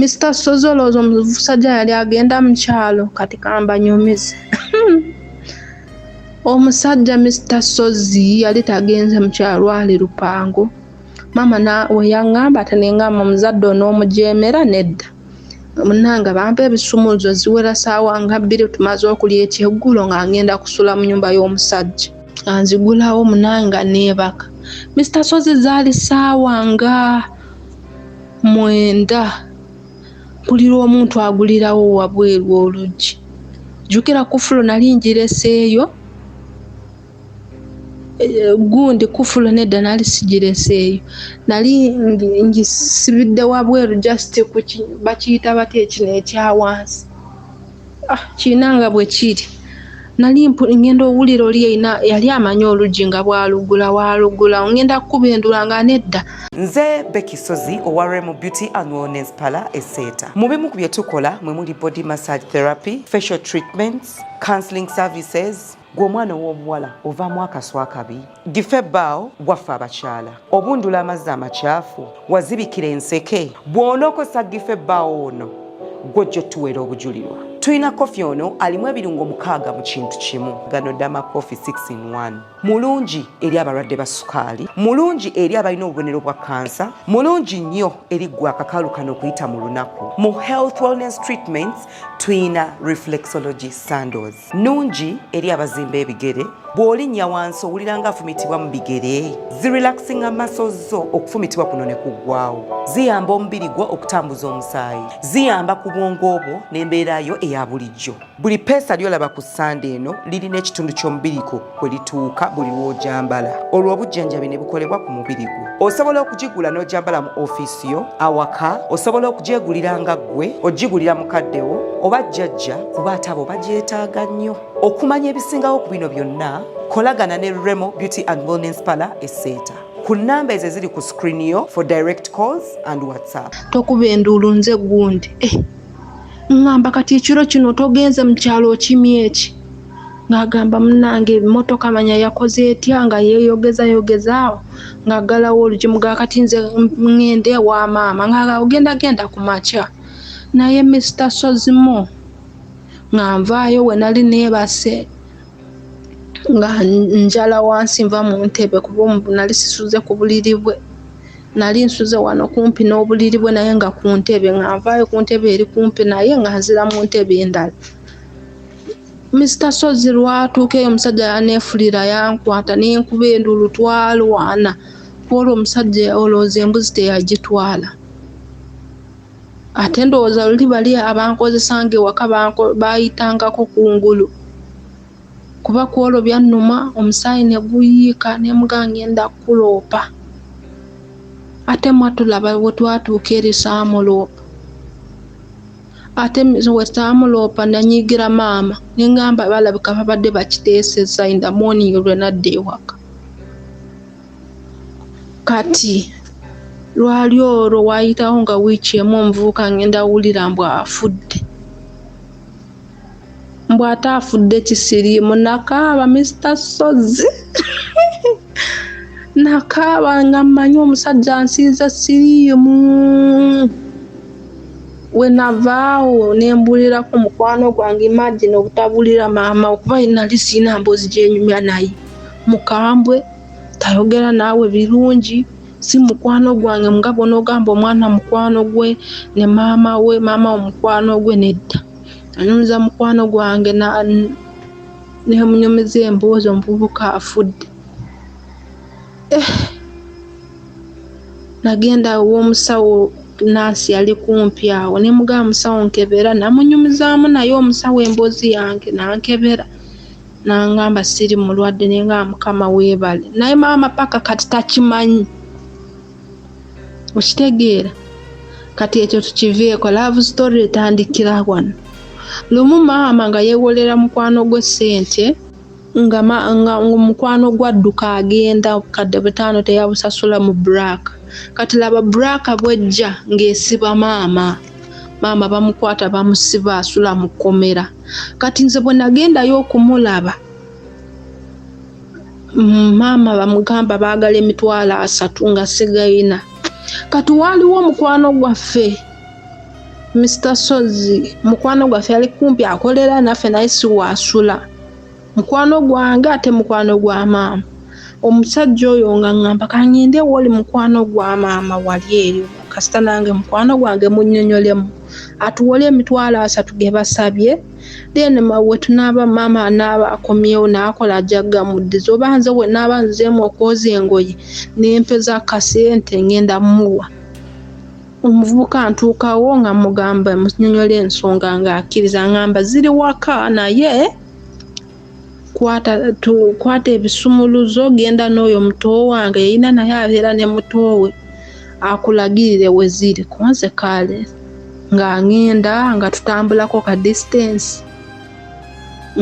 Speaker 1: Mr Sozi olowooza omusajja yali agenda mu kyalo kati kambanyumize omusajja Mr Sozi yali tagenze mu kyalo lwali lupango maama na weyaŋŋamba ati ninga mumuzadde onoomujeemera nedda munange bampa ebisumuluzo ziwera saawa nga bbiri tumaze okulya ekyeggulo nga ngenda kusula mu nyumba y'omusajja anzigulawo munange nga neebaka misita sozi zaali saawa nga mwenda mpulira omuntu agulirawo wabweru oluggi jjukira kufulo nali njireseeyo eh, gundi kufulu nedda nali sigireseeyo nali ngisibidde wabweru just bakiyita batya ekino ekyawansi ah, kirina nga bwe kiri nali ngenda owulira oli erina yali amanyi oluggi nga bwalugula walugula ngenda kukuba endula nga nedda nze
Speaker 4: bekisozi owa remu beauty and wellness pala eseeta mu bimu ku bye tukola mwe muli body massage therapy facial treatments counseling services gwe omwana ow'obuwala ovaamu akaswa akabi gife baawo gwaffe abakyala obundula amazzi amakyafu wazibikira enseke bw'onookosa gife baawo ono gwojja otuweera obujulirwa tulina kofi ono alimu ebirungo mukaaga mu kintu kimu gano dama kofi 6 in 1 mulungi eri abalwadde ba sukaali mulungi eri abalina obubonero bwa kansa mulungi nnyo eri gwe akakaalu kano okuyita mu lunaku mu health wellness treatments tulina reflexology sandos nungi eri abazimba ebigere bw'olinnya wansi owulira nga afumitibwa mu bigere zirelaxinga maso zo okufumitibwa kuno ne kuggwawo ziyamba omubiri gwo okutambuza omusaayi ziyamba ku bwongo bwo n'embeera yo eya bulijjo buli peesa ly'olaba ku ssande eno lirina ekitundu ky'omubiriko kwe lituuka buli lw'ojambala olwo obujjanjabi ne bukolebwa ku mubiri gwo osobola okugigula n'ojambala mu ofiisi yo awaka osobola okugyegulira nga ggwe ogigulira mukaddewo oba jjajja kuba atabo bagyetaaga nnyo okumanya ebisingawo ku bino byonna kolagana ne remo beauty and wellness pala eseeta ku namba ezo eziri ku screen yo for direct calls and whatsapp tokuba enduulu
Speaker 1: nze gundi eh, ngamba kati ekiro kino togenze mu kyalo okimyeki ng'agamba munnange emmotoka manya yakoze etya nga yeeyogeza yogeza awo ng'aggalawo olugimu ga kati nze ŋŋende ewa maama ng'agenda genda ku makya naye misita sozimo nga nvaayo we nali neebase nga njala wansi nva mu ntebe kuba omubu nali sisuze ku buliri bwe nali nsuze wano kumpi n'obuliri bwe naye nga ku ntebe nga nvaayo ku ntebe eri kumpi naye nga nzira mu ntebe endala Mister Ssozi lwatuukeyo omusajja yaneefulira yankwata n'enkuba enduulu twalwana kwolwo omusajja olowooza embuzi teyagitwala ate ndowooza luli bali abankozesanga ewaka baayitangako ku ngulu kuba kwolwo byannuma omusaayi ne guyiika ne muga ng'enda kukuloopa ate mwatulaba we twatuuka eri saamuloopa Ate mize wesaamulopa nanyiigira maama nengamba balabika babadde bakiteeseza in the morning lwenadda ewaka kati lwali olwo wayitawo nga wiiki emu omuvubuka ngenda wulira mbu afudde. mbu ate afudde kisiriimu nakaaba mister sozzi nakaaba nga mmanyi omusajja ansiiza siriimu wenavaawo nembuulirako mukwano gwange imagine obutabuulira maama okuba nali siina mboozi gyenyumya naye mukambwe tayogera naawe birungi si mukwano gwange nga bwonogamba omwana mukwano gwe ne maama we maama wo mukwano gwe nedda anyumiza mukwano gwange nemunyumiza emboozi omuvubuka afudde eh, nagenda womusawo nansi yali kumpi awo nemugaba musawo nkebera namunyumizaamu naye omusawo emboozi yange nankebera nangamba siri mulwadde nenga mukama webale naye maama paka kati takimanyi okitegeera kati ekyo tukiveeko love story etandikira wano lumu maama nga yewolera mukwano gwe sente nga nga omukwano gwadduka agenda obukadde butaano teyabusasula mu black kati laba black bwejja ng'esiba maama maama bamukwata bamusiba asula mu kkomera kati nze bwe nagendayo okumulaba maama bamugamba baagala emitwalo asatu nga sigayina kati waaliwo omukwano gwaffe Mr Sozzi mukwano gwaffe yali kumpi akolera naffe naye siwaasula mukwano gwange ate mukwano gwa maama omusajja oyo nga ngamba kangende woli mukwano gwa maama wali eyo kasita nange mukwano gwange munyonyolemu atuwole emitwalo asatu gebasabye then mawe tunaaba maama anaaba akomyewo naakola ajja gamuddiza oba nze bwe naaba nzeemu okwoza engoye nempeza kasente ngenda muwa omuvubuka ntuukawo nga mugamba munyonyola ensonga ng'akkiriza ngamba ziri waka naye kwata tu, kwata ebisumuluzo genda n'oyo muto wange yeyina naye abeera ne muto we akulagirire we ziri kunze kaale nga ngenda nga tutambulako ka distance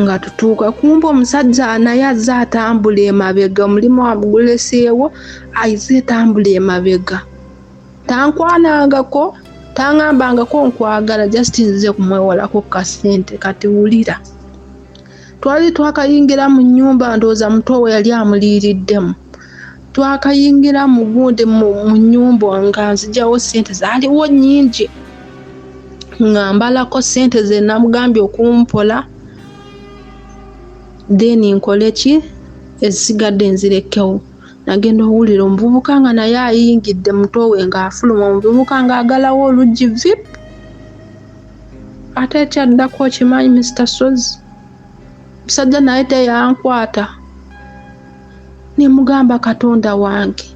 Speaker 1: nga tutuuka kumba omusajja naye azze atambula emabega omulimu amuguleseewo aize etambula emabega tankwanangako tangambangako nkwagala just nzize kumwewolako kasente kati wulira twali twakayingira mu nyumba ndowooza muto we yali amuliiriddemu twakayingira mu gundi mu nyumba nga nzijawo sente zaliwo nyingi nga mbalako sente zenamugambye okumpola then nkoleki ezigadde nzirekewo nagenda owulira omuvubuka nga naye ayingidde mutowe ng'afuluma omuvubuka ng'agalawo oluggi vip ate ekyaddako okimanyi mister sozi musajja naye teyankwata nemugamba katonda wange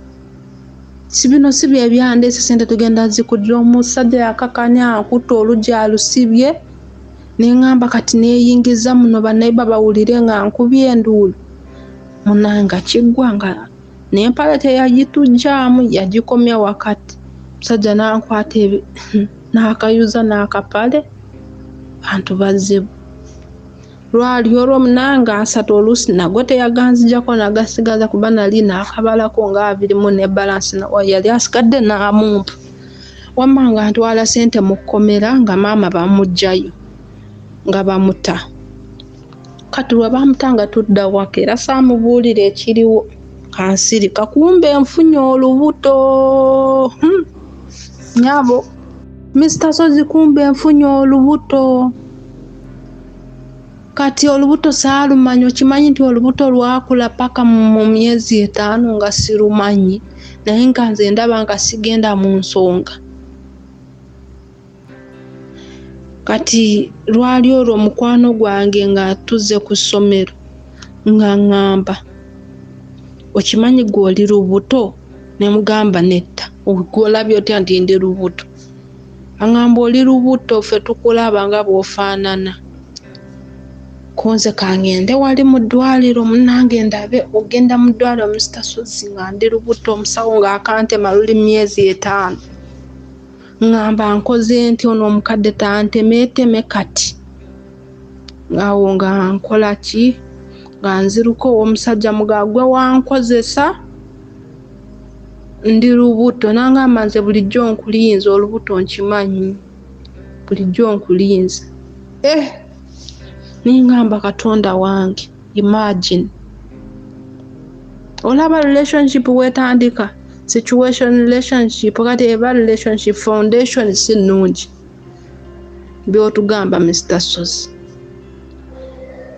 Speaker 1: sibino si byebyandeese sente tugenda zikudira omusajja yakakanya akutta oluggi alusibye nengamba kati neyingiza muno banaiba bawulire nga nkubye enduulu munanga kiggwa nga n'empale teyagitujjaamu yagikomya wakati musajja n'ankwata n'akayuza n'akapale bantu bazibu lwali olwo munanga asatu oluusi nago teyaganzijako nagasigaza kuba nali nakabalako nga abirimu ne balansi yali asigadde n'amumpa wamma nga ntwala sente mu kkomera nga maama bamugjayo nga bamuta kati lwe bamutanga tudda waka era saamubuulira ekiriwo kansiri kakumba enfunye olubuto hmm. nyabo mista sozi kumba enfunye olubuto kati olubuto saalumanyi okimanyi nti olubuto lwakula paka mu myezi etaano nga sirumanyi naye nga nze ndaba nga sigenda mu nsonga kati lwali olwo mukwano gwange nga tuzze ku ssomero nga ŋŋamba okimanyi gwe oli lubuto ne mugamba nedda ogwolabye otya nti ndi lubuto aŋamba oli lubuto ffe tukulaba nga bw'ofaanana kunze kangende wali mu ddwaliro munange ndabe ogenda mu ddwaliro musita suzzi nga ndi lubuto omusawo ng'akantema luli myezi etaano ŋŋamba nkoze nti ono omukadde tantemeeteme kati awo nga nkola ki nga nziruka ow'omusajja mugagwe wankozesa ndi lubuto nangamba nze bulijjo nkulinze olubuto nkimanyi bulijjo nkulinze eh ningamba katonda wange imagine olaba relationship wetandika situation relationship kati eba relationship foundation si nnungi byotugamba mr sozi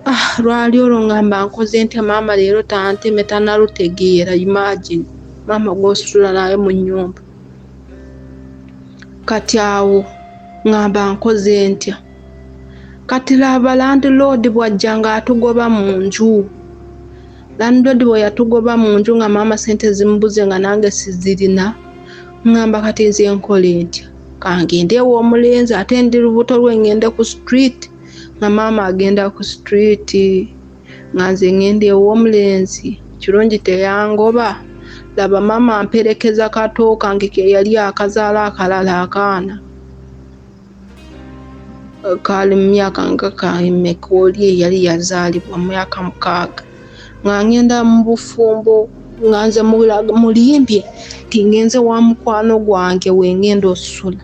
Speaker 1: ah lwali olwo ngamba nkoze ntya maama leero tanteme tanalutegeera imagine maama gwositula naye mu nyumba kati awo ngamba nkoze ntya kati laba landiloodi bwajja ng'atugoba mu nju landiloodi bwe yatugoba mu nju nga maama sente zimubuze nga nange sizirina ngamba kati nze nkola entya kangende ewa omulenzi ate ndi lubuto lwe ngende ku street nga maama agenda ku street nga nze ngende ewa omulenzi kirungi teyangoba laba maama amperekeza katooka nge keyali akazaala akalala akaana kaali mu myaka nga kaimeka oli eyali yazaalibwa mu myaka mukaaga nga ngenda mu bufumbo nga nze mulimbye nti ngenze wa mukwano gwange wengenda osula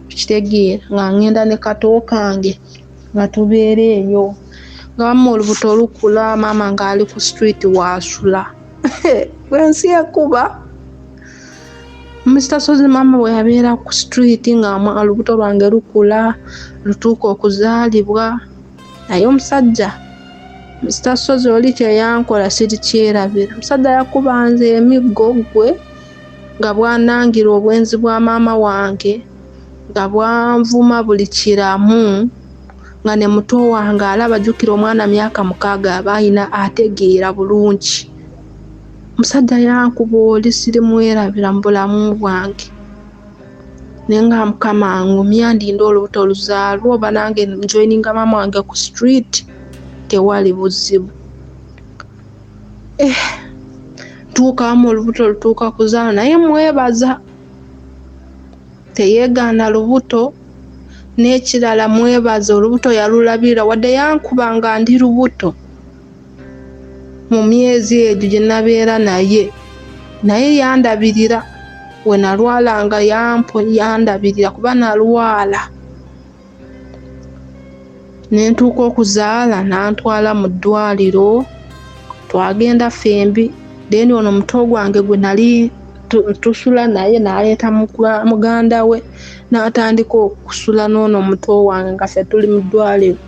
Speaker 1: kitegeera nga ngenda ne kato kange nga tubeera eyo nga wamma olubuto lukula maama ng'ali ku street waasula ensi ekuba Mr. Sozi maama bwe yabeera ku street nga olubuto lwange lukula lutuuka okuzaalibwa naye omusajja Mr. Sozi oli kye yankola sirikyerabira omusajja yakuba nze emiggo gwe nga bwanangira obwenzi bwa maama wange nga bwanvuma buli kiramu nga ne muto wange alaba jjukira omwana myaka mukaaga aba alina ategeera bulungi. omusajja yankuba oli sirimwerabira mu bulamu bwange naye nga mukama ngumya ndinde olubuto oluzaalwa oba nange njoininga maama wange ku street tewali buzibu eh, tuukamu olubuto lutuuka kuzaala naye mwebaza teyeegaana lubuto n'ekirala mwebaza olubuto yalulabirira wadde yankuba nga ndi lubuto mu myezi egyo gye nabeera naye naye yandabirira we nalwalanga yampo yandabirira kuba nalwala ne ntuuka okuzaala n'antwala mu ddwaliro twagenda ffembi then ono muto gwange gwe nali tusula naye naleeta muganda we n'atandika okusula n'ono muto wange nga ffe tuli mu ddwaliro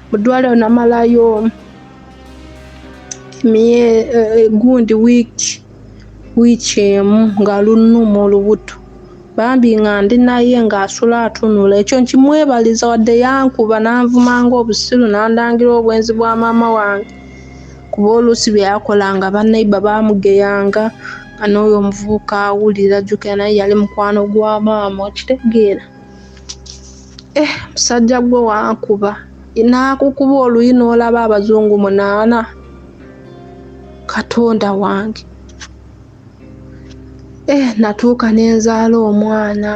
Speaker 1: mu ddwaliro namalayo eh, gundi wiiki wiiki emu nga lunuma olubuto bambi nga ndi naye ng'asula atunula ekyo nkimwebaliza wadde yankuba n'anvuma ng'obusiru n'andangira obwenzi bwa maama wange kuba oluusi bye yakola nga bannaiba baamugeyanga nga n'oyo omuvubuka awulira jjukira naye yali mukwano gwa maama okitegeera Eh, musajja gwe wankuba nakukuba oluyi n'olaba abazungu munaana katonda wange eh, natuuka nenzaala omwana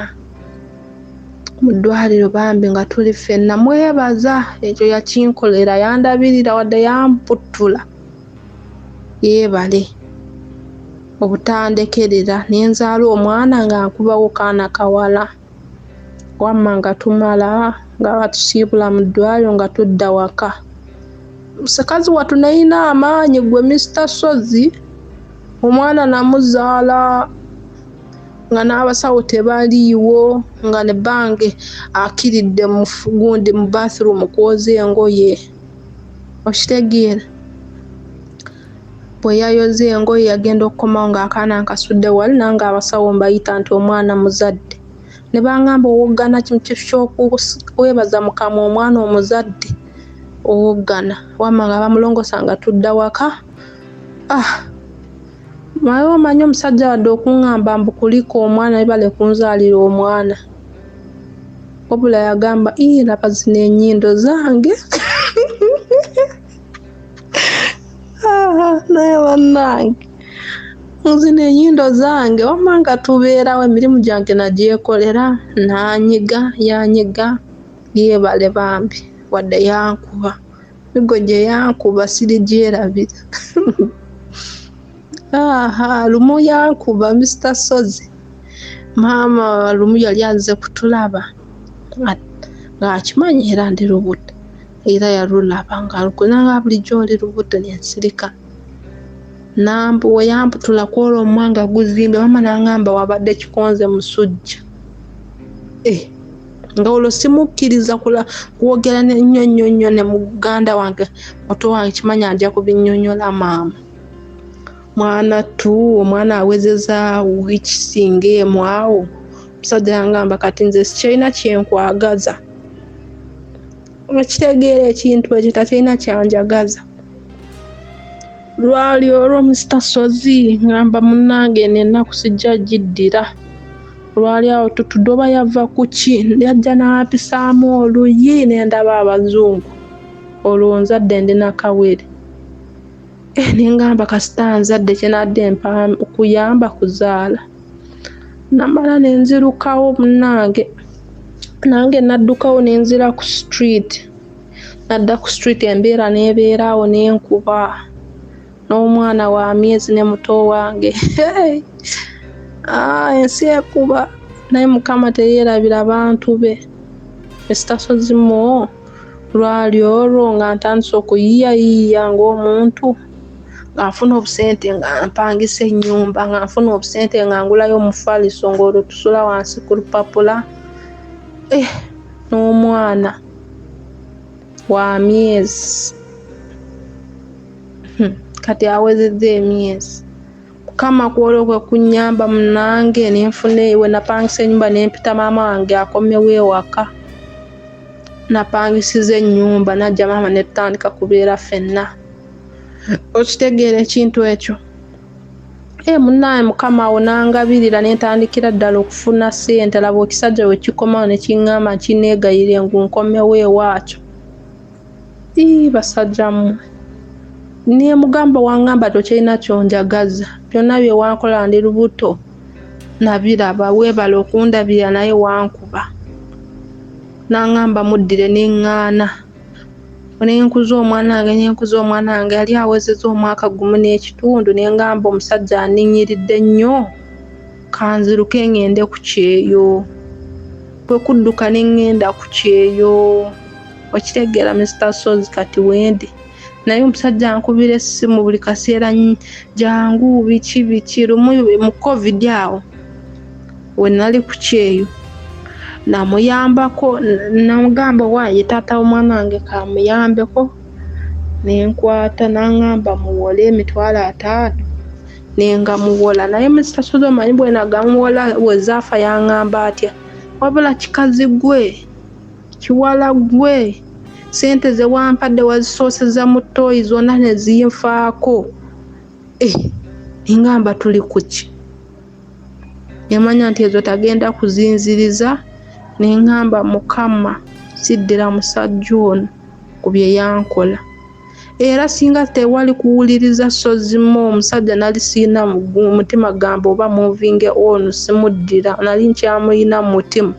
Speaker 1: mu ddwaliro bambi nga tuli ffenna mwebaza ekyo yakinkolera yandabirira wadde yamputtula yeebale obutandekerera nenzaala omwana nga nkubawo kaana kawala wamma nga tumala nga batusiibula mu ddwaliro nga tudda waka musikazi watu nayina amaanyi gwe mister sozi omwana namuzaala nga n'abasawo tebaliiwo nga ne bange akiridde mugundi mu bathroom kwoza engoye okitegeera Bwe yayoza engoye yagenda okukomawo ng'akaana nkasudde wali nange abasawo mbayita nti omwana muzadde ne bangamba owoggana mu kifo ky'okuweebaza mu kamwa omwana omuzadde owoggana wamma nga bamulongosa nga tudda waka ah naye omanyi omusajja wadde okungamba mbu kulika omwana ebale kunzaalira omwana wabula yagamba ii laba zino enyindo zange Ah, naye bannange nzino enyindo zange wamma nga tubeerawo emirimu gyange nagyekolera nanyiga yanyiga yeebale bambi wadde yankuba migo gye yankuba sirigyerabira aha lumu yankuba mr sozi maama lumu yali aze kutulaba ng'akimanyi era ndi lubuto era yalulaba nga lukuna nga bulijjo oli lubuto ne nsirika nambu we yamputula ku olwo omwanga guzimbe maama n'angamba wabadde kikonze musujja eh, nga olwo simukkiriza kwogera nnyo nnyo nnyo ne muganda wange muto wange kimanya nja kubinyonyola maama mwana tu omwana awezeza wikisinga emu awo omusajja yangamba kati nze sikyalina kyenkwagaza okitegeera ekintu ekyo takirina kyanjagaza lwali olwo musita sozi ngamba munange nenaku sijja giddira lwali awo tutudde oba yava ku ki yajja n'apisaamu oluyi nendaba abazungu olwo nzadde ndi nakawere eh, nengamba kasita nzadde kyenadde mpa kuyamba kuzaala namala ne nzirukawo munnange nange naddukawo ne nzira ku street nadda ku street embeera n'ebeeraawo ne nkuba n'omwana wa myezi ne muto wange ah, ensi ekuba naye mukama teyeerabira bantu be esitasozi mu lwali olwo nga ntandise okuyiyayiiya ng'omuntu nga nfuna obusente nga mpangisa ennyumba nga nfuna obusente nga ngulayo omufaliso ng'olwo tusula wansi ku lupapula eh, n'omwana wa myezi hmm, kati awezezza emyezi kama kwolwo kwe kunnyamba munange ne nfuna ewe napangisa ennyumba ne mpita maama wange akomewo ewaka napangisiza ennyumba najja maama ne tutandika kubeera fenna okitegeera ekintu ekyo e munaye mukama awo nangabirira nentandikira ddala okufuna sente laba ekisajja wekikomawo nekiŋŋamba nkineegayire ngu nkomewo ewaakyo ii basajja mmwe nemugamba wangamba tokyalina kyonjagaza byonna byewankola ndi lubuto nabiraba weebala okundabirira naye wankuba nangamba muddire neŋŋaana nenkuza omwana wange nenkuza omwana wange yali awezeza omwaka gumu n'ekitundu nengamba omusajja aninyiridde nnyo kanziruke ngende ku kyeyo kwe kudduka ne ŋŋenda ku kyeyo okitegeera misita sozi kati wendi naye omusajja ankubira essimu buli kaseera jangu biki biki lumu mu covid awo we nali ku kyeyo namuyambako namugamba waaye taata w'omwana wange kamuyambeko nenkwata nangamba muwole emitwalo ataano nengamuwola naye musasula omanyi bwenagamuwola wezaafa yangamba atya wabula kikazi gwe kiwala gwe sente zewampadde wazisooseza mu tooyi zonna nezinfaako eh, engamba tuli kuki Yamanya nti ezo tagenda kuzinziriza ne ngamba Mukama siddira musajja ono ku bye yankola. Era singa tewali kuwuliriza Ssozimo omusajja nali sirina mutima gamba oba muvinge ono simuddira nali nkyamulina mu mutima.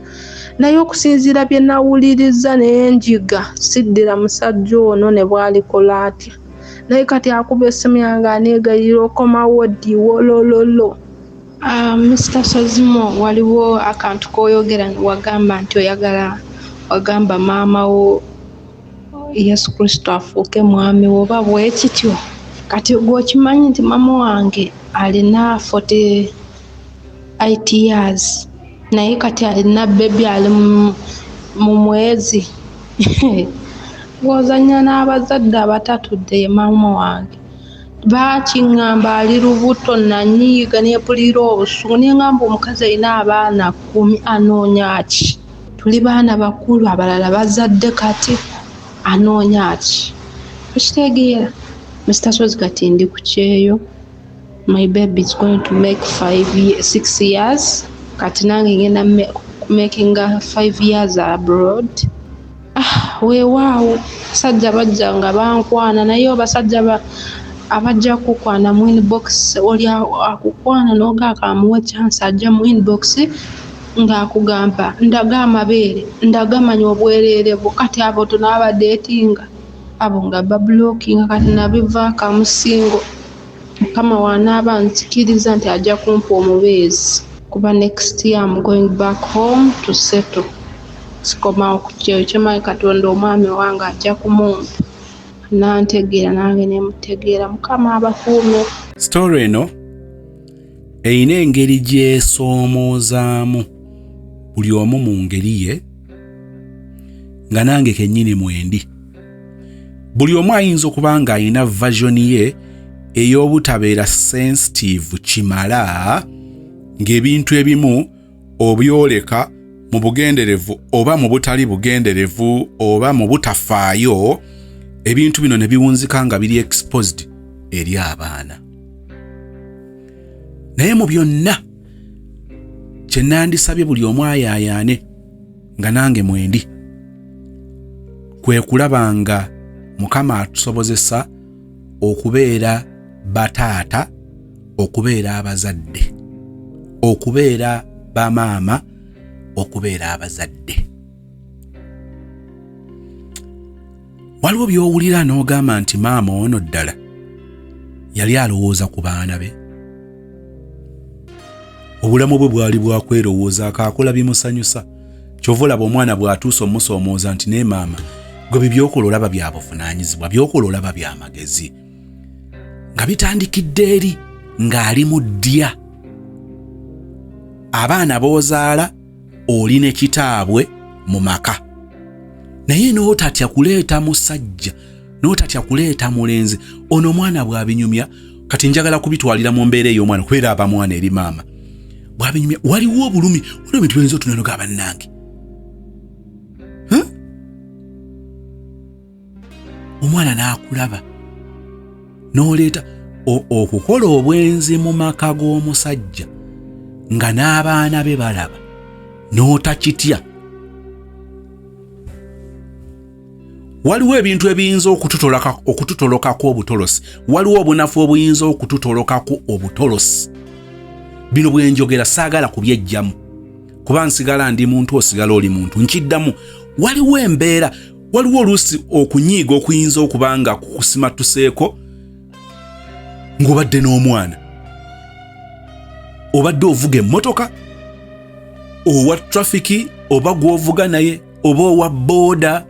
Speaker 1: Naye okusinziira bye nawuliriza ne njiga siddira musajja ono ne bw'alikola atya. naye kati akuba esimu yange anegayira okomawo ddi wolololo Uh, Mr. Sazimo waliwo akantu koyogera wagamba nti oyagala wagamba maama wo Yesu Kristo afuuke mwami wo oba bwekityo kati gwe okimanyi nti maama wange alina 40 8 years naye kati alina bebi ali mu mwezi ng'ozannya n'abazadde abatatudde ye maama wange baakingamba ali lubuto nanyiiga neepulira obusungu ne ngamba omukazi alina abaana kkumi anoonya ki tuli baana bakulu abalala bazadde kati anoonya ki okitegeera mr sozi kati ndi ku kyeyo My baby is going to make five, six years kati nange ngenda makinga five years abroad ah, weewaawo basajja bajja nga bankwana naye obasajja abajja kukwana mu inbox oli akukwana nogaaka amuwa chance ajja mu inbox ng'akugamba ndaga amabeere ndagamanya obwereere bwo kati abo tonabadeetinga abo nga babulokinga kati nabivaakamusingo Mukama wanaaba anzikiriza nti ajja kumpa omubeezi. Kuba next year am going back home to settle sikomawo ku kyeyo kye manyi katonda omwami owange ajja kumumpa nantegeera nange nemutegeera mukama abakuume. Story eno
Speaker 2: erina engeri gyesoomoozaamu buli omu mu ngeri ye nga nange kennyini mwendi. buli omu ayinza okuba ng'alina vajoni ye ey'obutabeera sensitiivu kimala ng'ebintu ebimu obyoleka mu bugenderevu oba mu butali bugenderevu oba mu butafaayo ebintu bino ne biwunzika nga biri exposed eri abaana naye mu byonna kye nandisabye buli omu ayaayaane nga nange mwendi kwe kulaba nga mukama atusobozesa okubeera bataata okubeera abazadde okubeera bamaama okubeera abazadde waliwo by'owulira n'ogamba nti maama ono ddala yali alowooza ku baana be obulamu bwe bwali bwakwerowooza akaakola bimusanyusa kyova olaba omwana bw'atuusa omusoomooza nti naye maama gwe bibyokola olaba bya buvunaanyizibwa byokola olaba bya magezi nga bitandikidde eri ng'ali mu ddya abaana b'ozaala oli ne kitaabwe mu maka naye n'otatya kuleeta musajja n'otatya kuleeta mulenzi ono omwana bw'abinyumya kati njagala kubitwalira mu mbeera ey'omwana kubeera aba mwana eri maama bw'abinyumya waliwo obulumi waliwo bintu byoyinza otunanoga abannange omwana n'akulaba n'oleeta okukola obwenzi mu maka g'omusajja nga n'abaana be balaba n'otakitya waliwo ebintu ebiyinza okututolokako obutolosi waliwo obunafu obuyinza okututolokako obutolosi bino bwenjogera saagala kubyejjamu kuba nsigala ndi muntu osigala oli muntu nkiddamu waliwo embeera waliwo oluusi okunyiiga okuyinza okuba nga kukusimatuseeko ng'obadde n'omwana obadde ovuga emmotoka owa trafiki oba gw'ovuga naye oba owa booda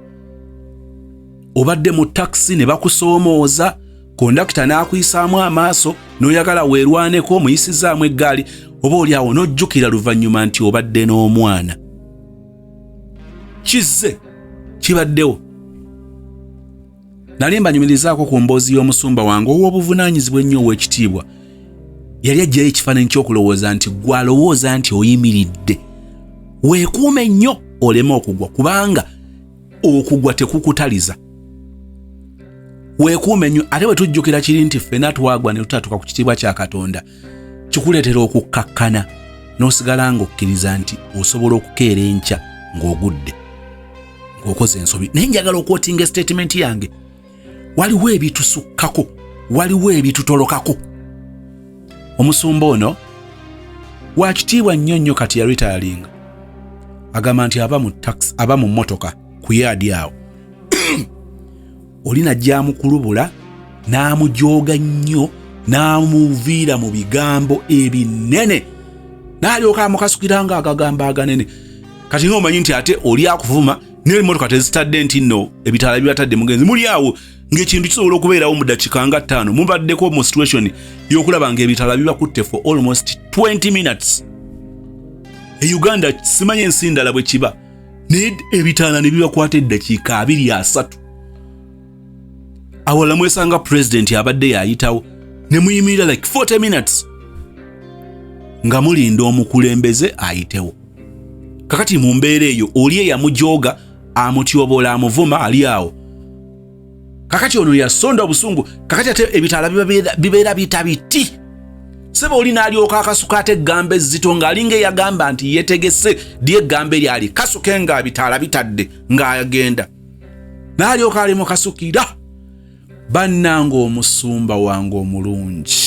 Speaker 2: obadde mu takisi ne bakusoomooza kondakita n'akuyisaamu amaaso n'oyagala weerwaneko omuyisizaamu eggaali oba oli awo n'ojjukira luvannyuma nti obadde n'omwana kizze kibaddewo nali mbanyumirizaako ku mboozi y'omusumba wange ow'obuvunaanyizibwa ennyo ow'ekitiibwa yali ajjayo ekifaananyi ky'okulowooza nti gw'alowooza nti oyimiridde weekuume nnyo oleme okugwa kubanga okugwa tekukutaliza weekuume nnyo ate bwe tujjukira kiri nti ffena twagwa ne tutatuka ku kitiibwa kya katonda kikuleetera okukkakkana n'osigala ng'okkiriza nti osobola okukeera enkya ng'ogudde ng'okoze ensobi naye njagala okwotinga esitatimenti yange waliwo ebitusukkako waliwo ebitutolokako omusumba ono wakitiibwa nnyo nnyo kati ya ritayalinga agamba nti aba mu tax aba mu mmotoka ku yaadi awo oli najja amukulubula n'amujooga nnyo n'amuviira mu bigambo ebinene n'alyoka amukasukira nga agagambo aganene kati nga omanyi nti ate oli akuvuma naye emotoka tezitadde nti no ebitala bibatadde mugenzi muli awo ng'ekintu kisobola okubeerawo mu dakiika nga ttaano mubaddeko mu situation y'okulaba ng'ebitala bibakutte for almost 20 minutes e uganda simanya ensi ndala bwe kiba naye ebitaana ne bibakwata eddakiika abiri asatu awala mwesanga pulezidenti abadde yayitawo ne muyimirira like 40 minutes nga mulinda omukulembeze ayitewo kakati mu mbeera eyo oli eyamujooga amutyobola amuvuma ali awo kakati ono yasonda obusungu kakati ate ebitaala bibeera bita biti seba oli nalyoka akasuka ate eggambo ezzito ng'alinga eyagamba nti yetegese dy eggambo eryali kasuke nga bitaala bitadde ng'agenda nalyoka ali mukasukira bannanga omusumba wange omulungi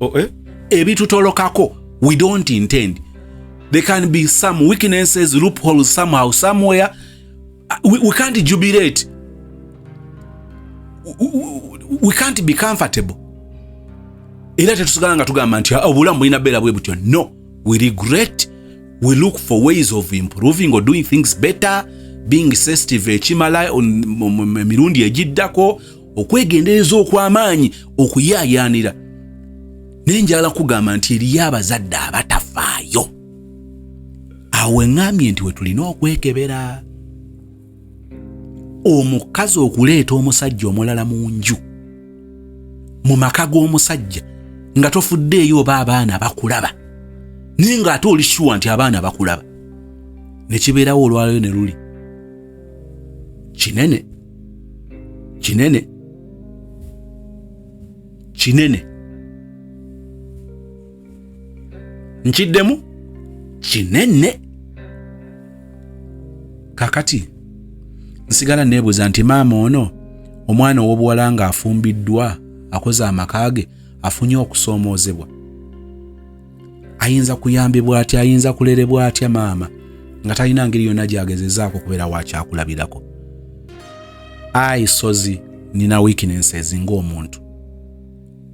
Speaker 2: oh, eh? ebitutolokako we don't intend there can be some weaknesses loopholes somehow somewhere uh, we, we can't jubilate we, we, we can't be comfortable era tetusigala nga tugamba nti ah, obulamu bulina beera bwe butyo no we regret we look for ways of improving or doing things better being sensitive ekimala emirundi egiddako okwegendereza okw'amaanyi okuyaayaanira naye njala kugamba nti eriyo abazadde abatafaayo awo eŋŋambye nti we tulina okwekebera omukazi okuleeta omusajja omulala mu nju mu maka g'omusajja nga tofuddeeyo oba abaana bakulaba naye ng'ate oli shuwa nti abaana bakulaba ne kibeerawo olwaleero ne luli kinene kinene kinene nkiddemu kinene kakati nsigala neebuuza nti maama ono omwana ow'obuwala ng'afumbiddwa akoze amaka ge afunye okusoomoozebwa ayinza kuyambibwa atya ayinza kulerebwa atya maama nga talina ngeri yonna gyagezezaako okubeera wakyakulabirako ayi sozi nina weaknesses ng'omuntu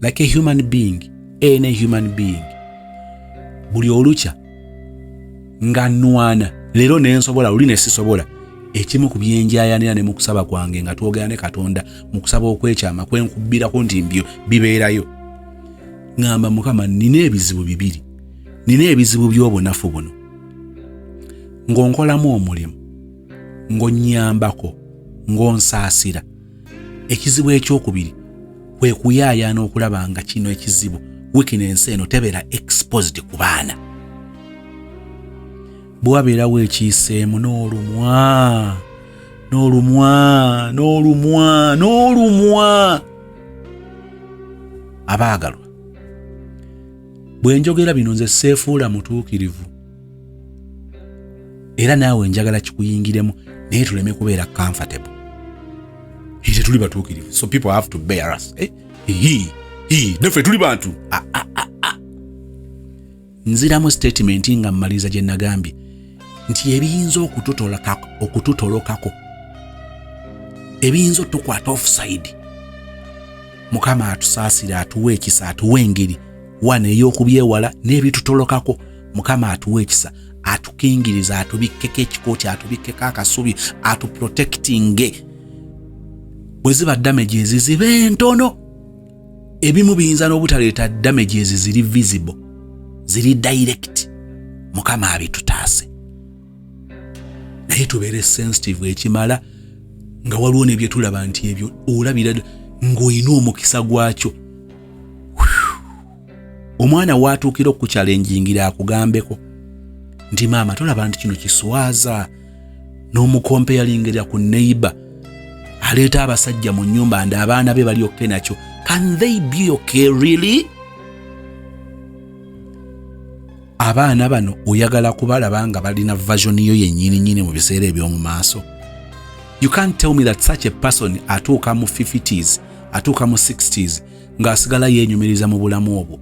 Speaker 2: like a human being any human being buli olukya nga nwana leero nensobola luli nesisobola ekimu ku byenjayanira ne mukusaba kwange nga twogera ne katonda mukusaba okwekyama kwenkubbirako nti mbyo bibeerayo ŋŋamba mukama nnina ebizibu bibiri nnina ebizibu by'obunafu buno ng'onkolamu omulimu ng'onnyambako ng'onsaasira ekizibu ekyokubiri kwe kuyaayaana okulaba nga kino ekizibu wiikino ensi eno tebeera exposed ku baana bwe wabeerawo ekiyiseemu n'olumwa n'olumwa n'olumwa n'olumwa abaagalwa bwe njogera bino nze seefuula mutuukirivu era naawe njagala kikuyingiremu naye tuleme kubeera comfortable he tetuli batuukirivu so people have to bear us eh? he, he, naffe tuli bantu ah, ah, ah, ah. nziramu sitatimenti nga mmaliriza gye nagambye nti ebiyinza okututolokako ebiyinza otukwata ofusaidi mukama atusaasire atuwa ekisa atuwa engeri wana ey'okubyewala n'ebitutolokako mukama atuwa ekisa atukingiriza atubikkeko ekikooti atubikkeko akasubi atuprotekitinge bwe ziba damage eziziba entono ebimu biyinza n'obutaleeta damages ziri visible ziri direct mukama abitutaase naye tubeere sensitive ekimala nga waliwo nebyetulaba nti ebyo olabira ng'olina omukisa gwakyo omwana waatuukira okukyalenjingira akugambeko nti maama tolaba nti kino kiswaza n'omukompe yalingerera ku neighbor aleeta abasajja mu nyumba nda abaana be bali okke nakyo can they be okay really abaana bano oyagala kubalaba nga balina version yo yenyini nyini mu biseera eby'omu maaso you can't tell me that such a person atuuka mu 50s atuuka mu 60s ng'asigala yeenyumiriza mu bulamu obwo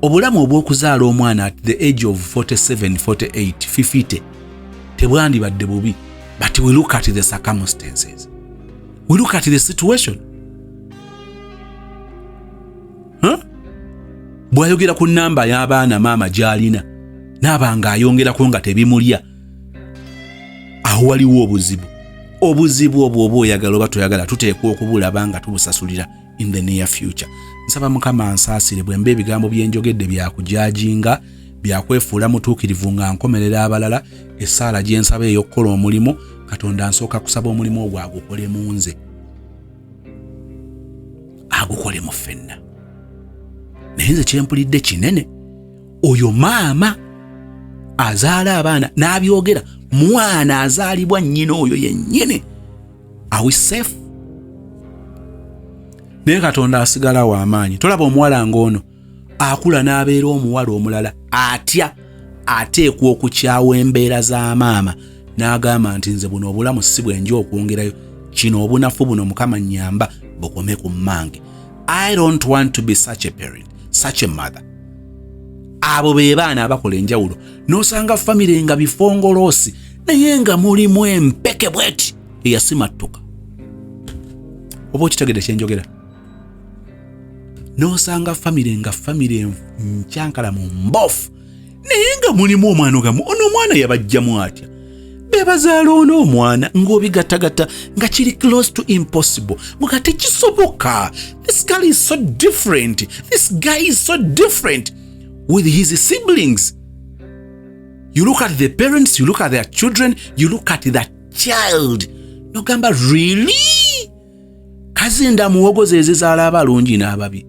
Speaker 2: obulamu obw'okuzaala omwana at the age of 47 48 fifite tebwandibadde bubi but we look at the circumstances we look at the situation huh? bw'ayogera ku namba y'abaana maama gy'alina naaba nga ayongerako nga tebimulya awo waliwo obuzibu obuzibu obwo oba oyagala oba toyagala tuteekwa okubulaba nga tubusasulira in the near future nsaba mukama ansaasire bwe mba ebigambo bye njogedde byakujaajinga byakwefuula mutuukirivu nga nkomerera abalala essaala gye nsaba ey'okukola omulimu katonda nsooka kusaba omulimu ogwo agukole mu nze agukole mu ffenna naye nze kyempulidde kinene oyo maama azaala abaana n'abyogera mwana azaalibwa nnyina oyo yennyini are we safe naye katonda asigala wa amaanyi tolaba omuwala ng'ono akula n'abeera omuwala omulala atya ateekwa okukyawa embeera za maama n'agamba nti nze buno obulamu si bwenja okwongerayo kino obunafu buno mukama nyamba bukome ku mmange i don't want to be such a parent such a mother abo be baana abakola enjawulo n'osanga famire nga bifongoloosi naye nga mulimu empeke bweti eyasimattuka oba okitegede kyenjogera n'osanga famire nga famire nkyankalamu mbofu naye nga mulimu omwana ogamu ono omwana yabajjamu atya bebazaala ono omwana ng'obigattagatta nga kiri close to impossible nga tekisoboka this girl is so different this guy is so different with his siblings you look at the parents you look at their children you look at the child nogamba really kazinda muwogo zezizaala abalungi n'ababi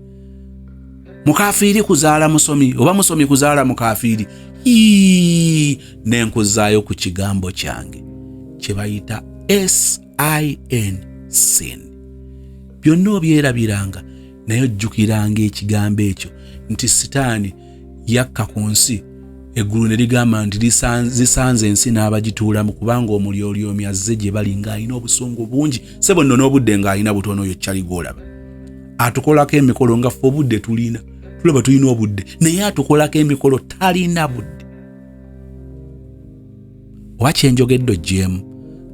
Speaker 2: mukafiiri kuzaala musomi oba musomi kuzaala mukafiiri nenkuzaayo ku kigambo kyange kye bayita sin sin byonna obyerabiranga naye ojjukiranga ekigambo ekyo nti sitaani yakka ku nsi eggulu ne ligamba nti zisanze ensi n'abagituulamu kubanga omulyolyomi azze gye bali ng'alina obusungu bungi se bonno n'obudde ng'alina butono oyo kyali gwolaba atukolako emikolo nga ffe obudde tulina tulaba tulina obudde naye atukolako emikolo talina budde oba kyenjogedde ogyemu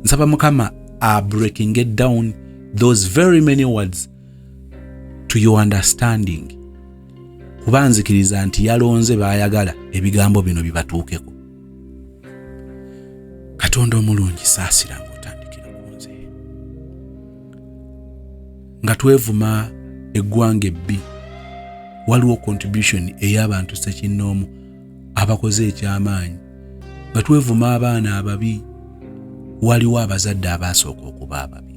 Speaker 2: nsaba mukama a breaking it down those very many words to your understanding kuba nzikiriza nti yalonze baayagala ebigambo bino bibatuukeko katonda omulungi saasira ngaotandikira ku nze nga twevuma eggwanga ebbi waliwo contribution ey'abantu sekinnoomu abakoze eky'amaanyi nga twevuma abaana ababi waliwo abazadde abaasooka okuba ababi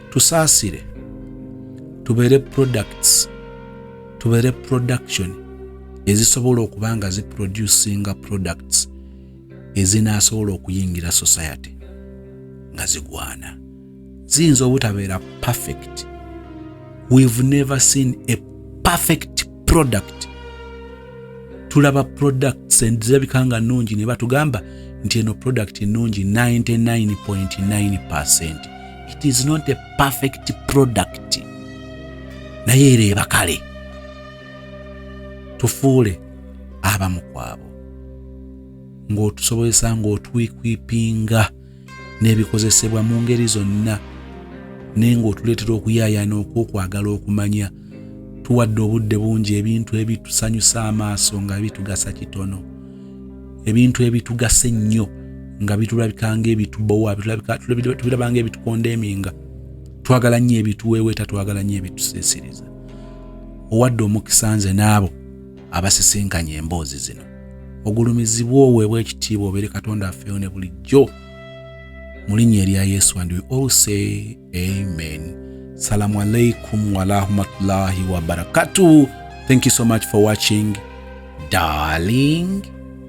Speaker 2: tusaasire tubeere products tubeere production ezisobola okuba nga ziproducinga products ezinaasobola okuyingira society nga zigwana ziyinza obutabeera perfect we've never seen a perfect product tulaba products zirabika nga nnungi ne batugamba nti eno product ennungi 99.9 it is not a perfect product naye era ebakale tufuule abamu kwabo ng'otusobozesa ng'otwikwipinga n'ebikozesebwa mu ngeri zonna naye ng'otuleetera okuyaayaana okw'okwagala okumanya tuwadde obudde bungi ebintu ebitusanyusa amaaso nga bitugasa kitono ebintu ebitugasa ennyo nga bitulabikanga ebitubowa tubirabanga ebitukonda eminga twagala nnyo ebituweeweeta twagala nnyo ebitusiisiriza owadde omukisa nze n'abo abasisinkanye emboozi zino ogulumizibwa oweebwa ekitiibwa obeere katonda afeeyo ne bulijjo mu linnya erya yesu and we all say amen salamu alaikum warahmatullahi wabarakatuh thank you so much for watching darling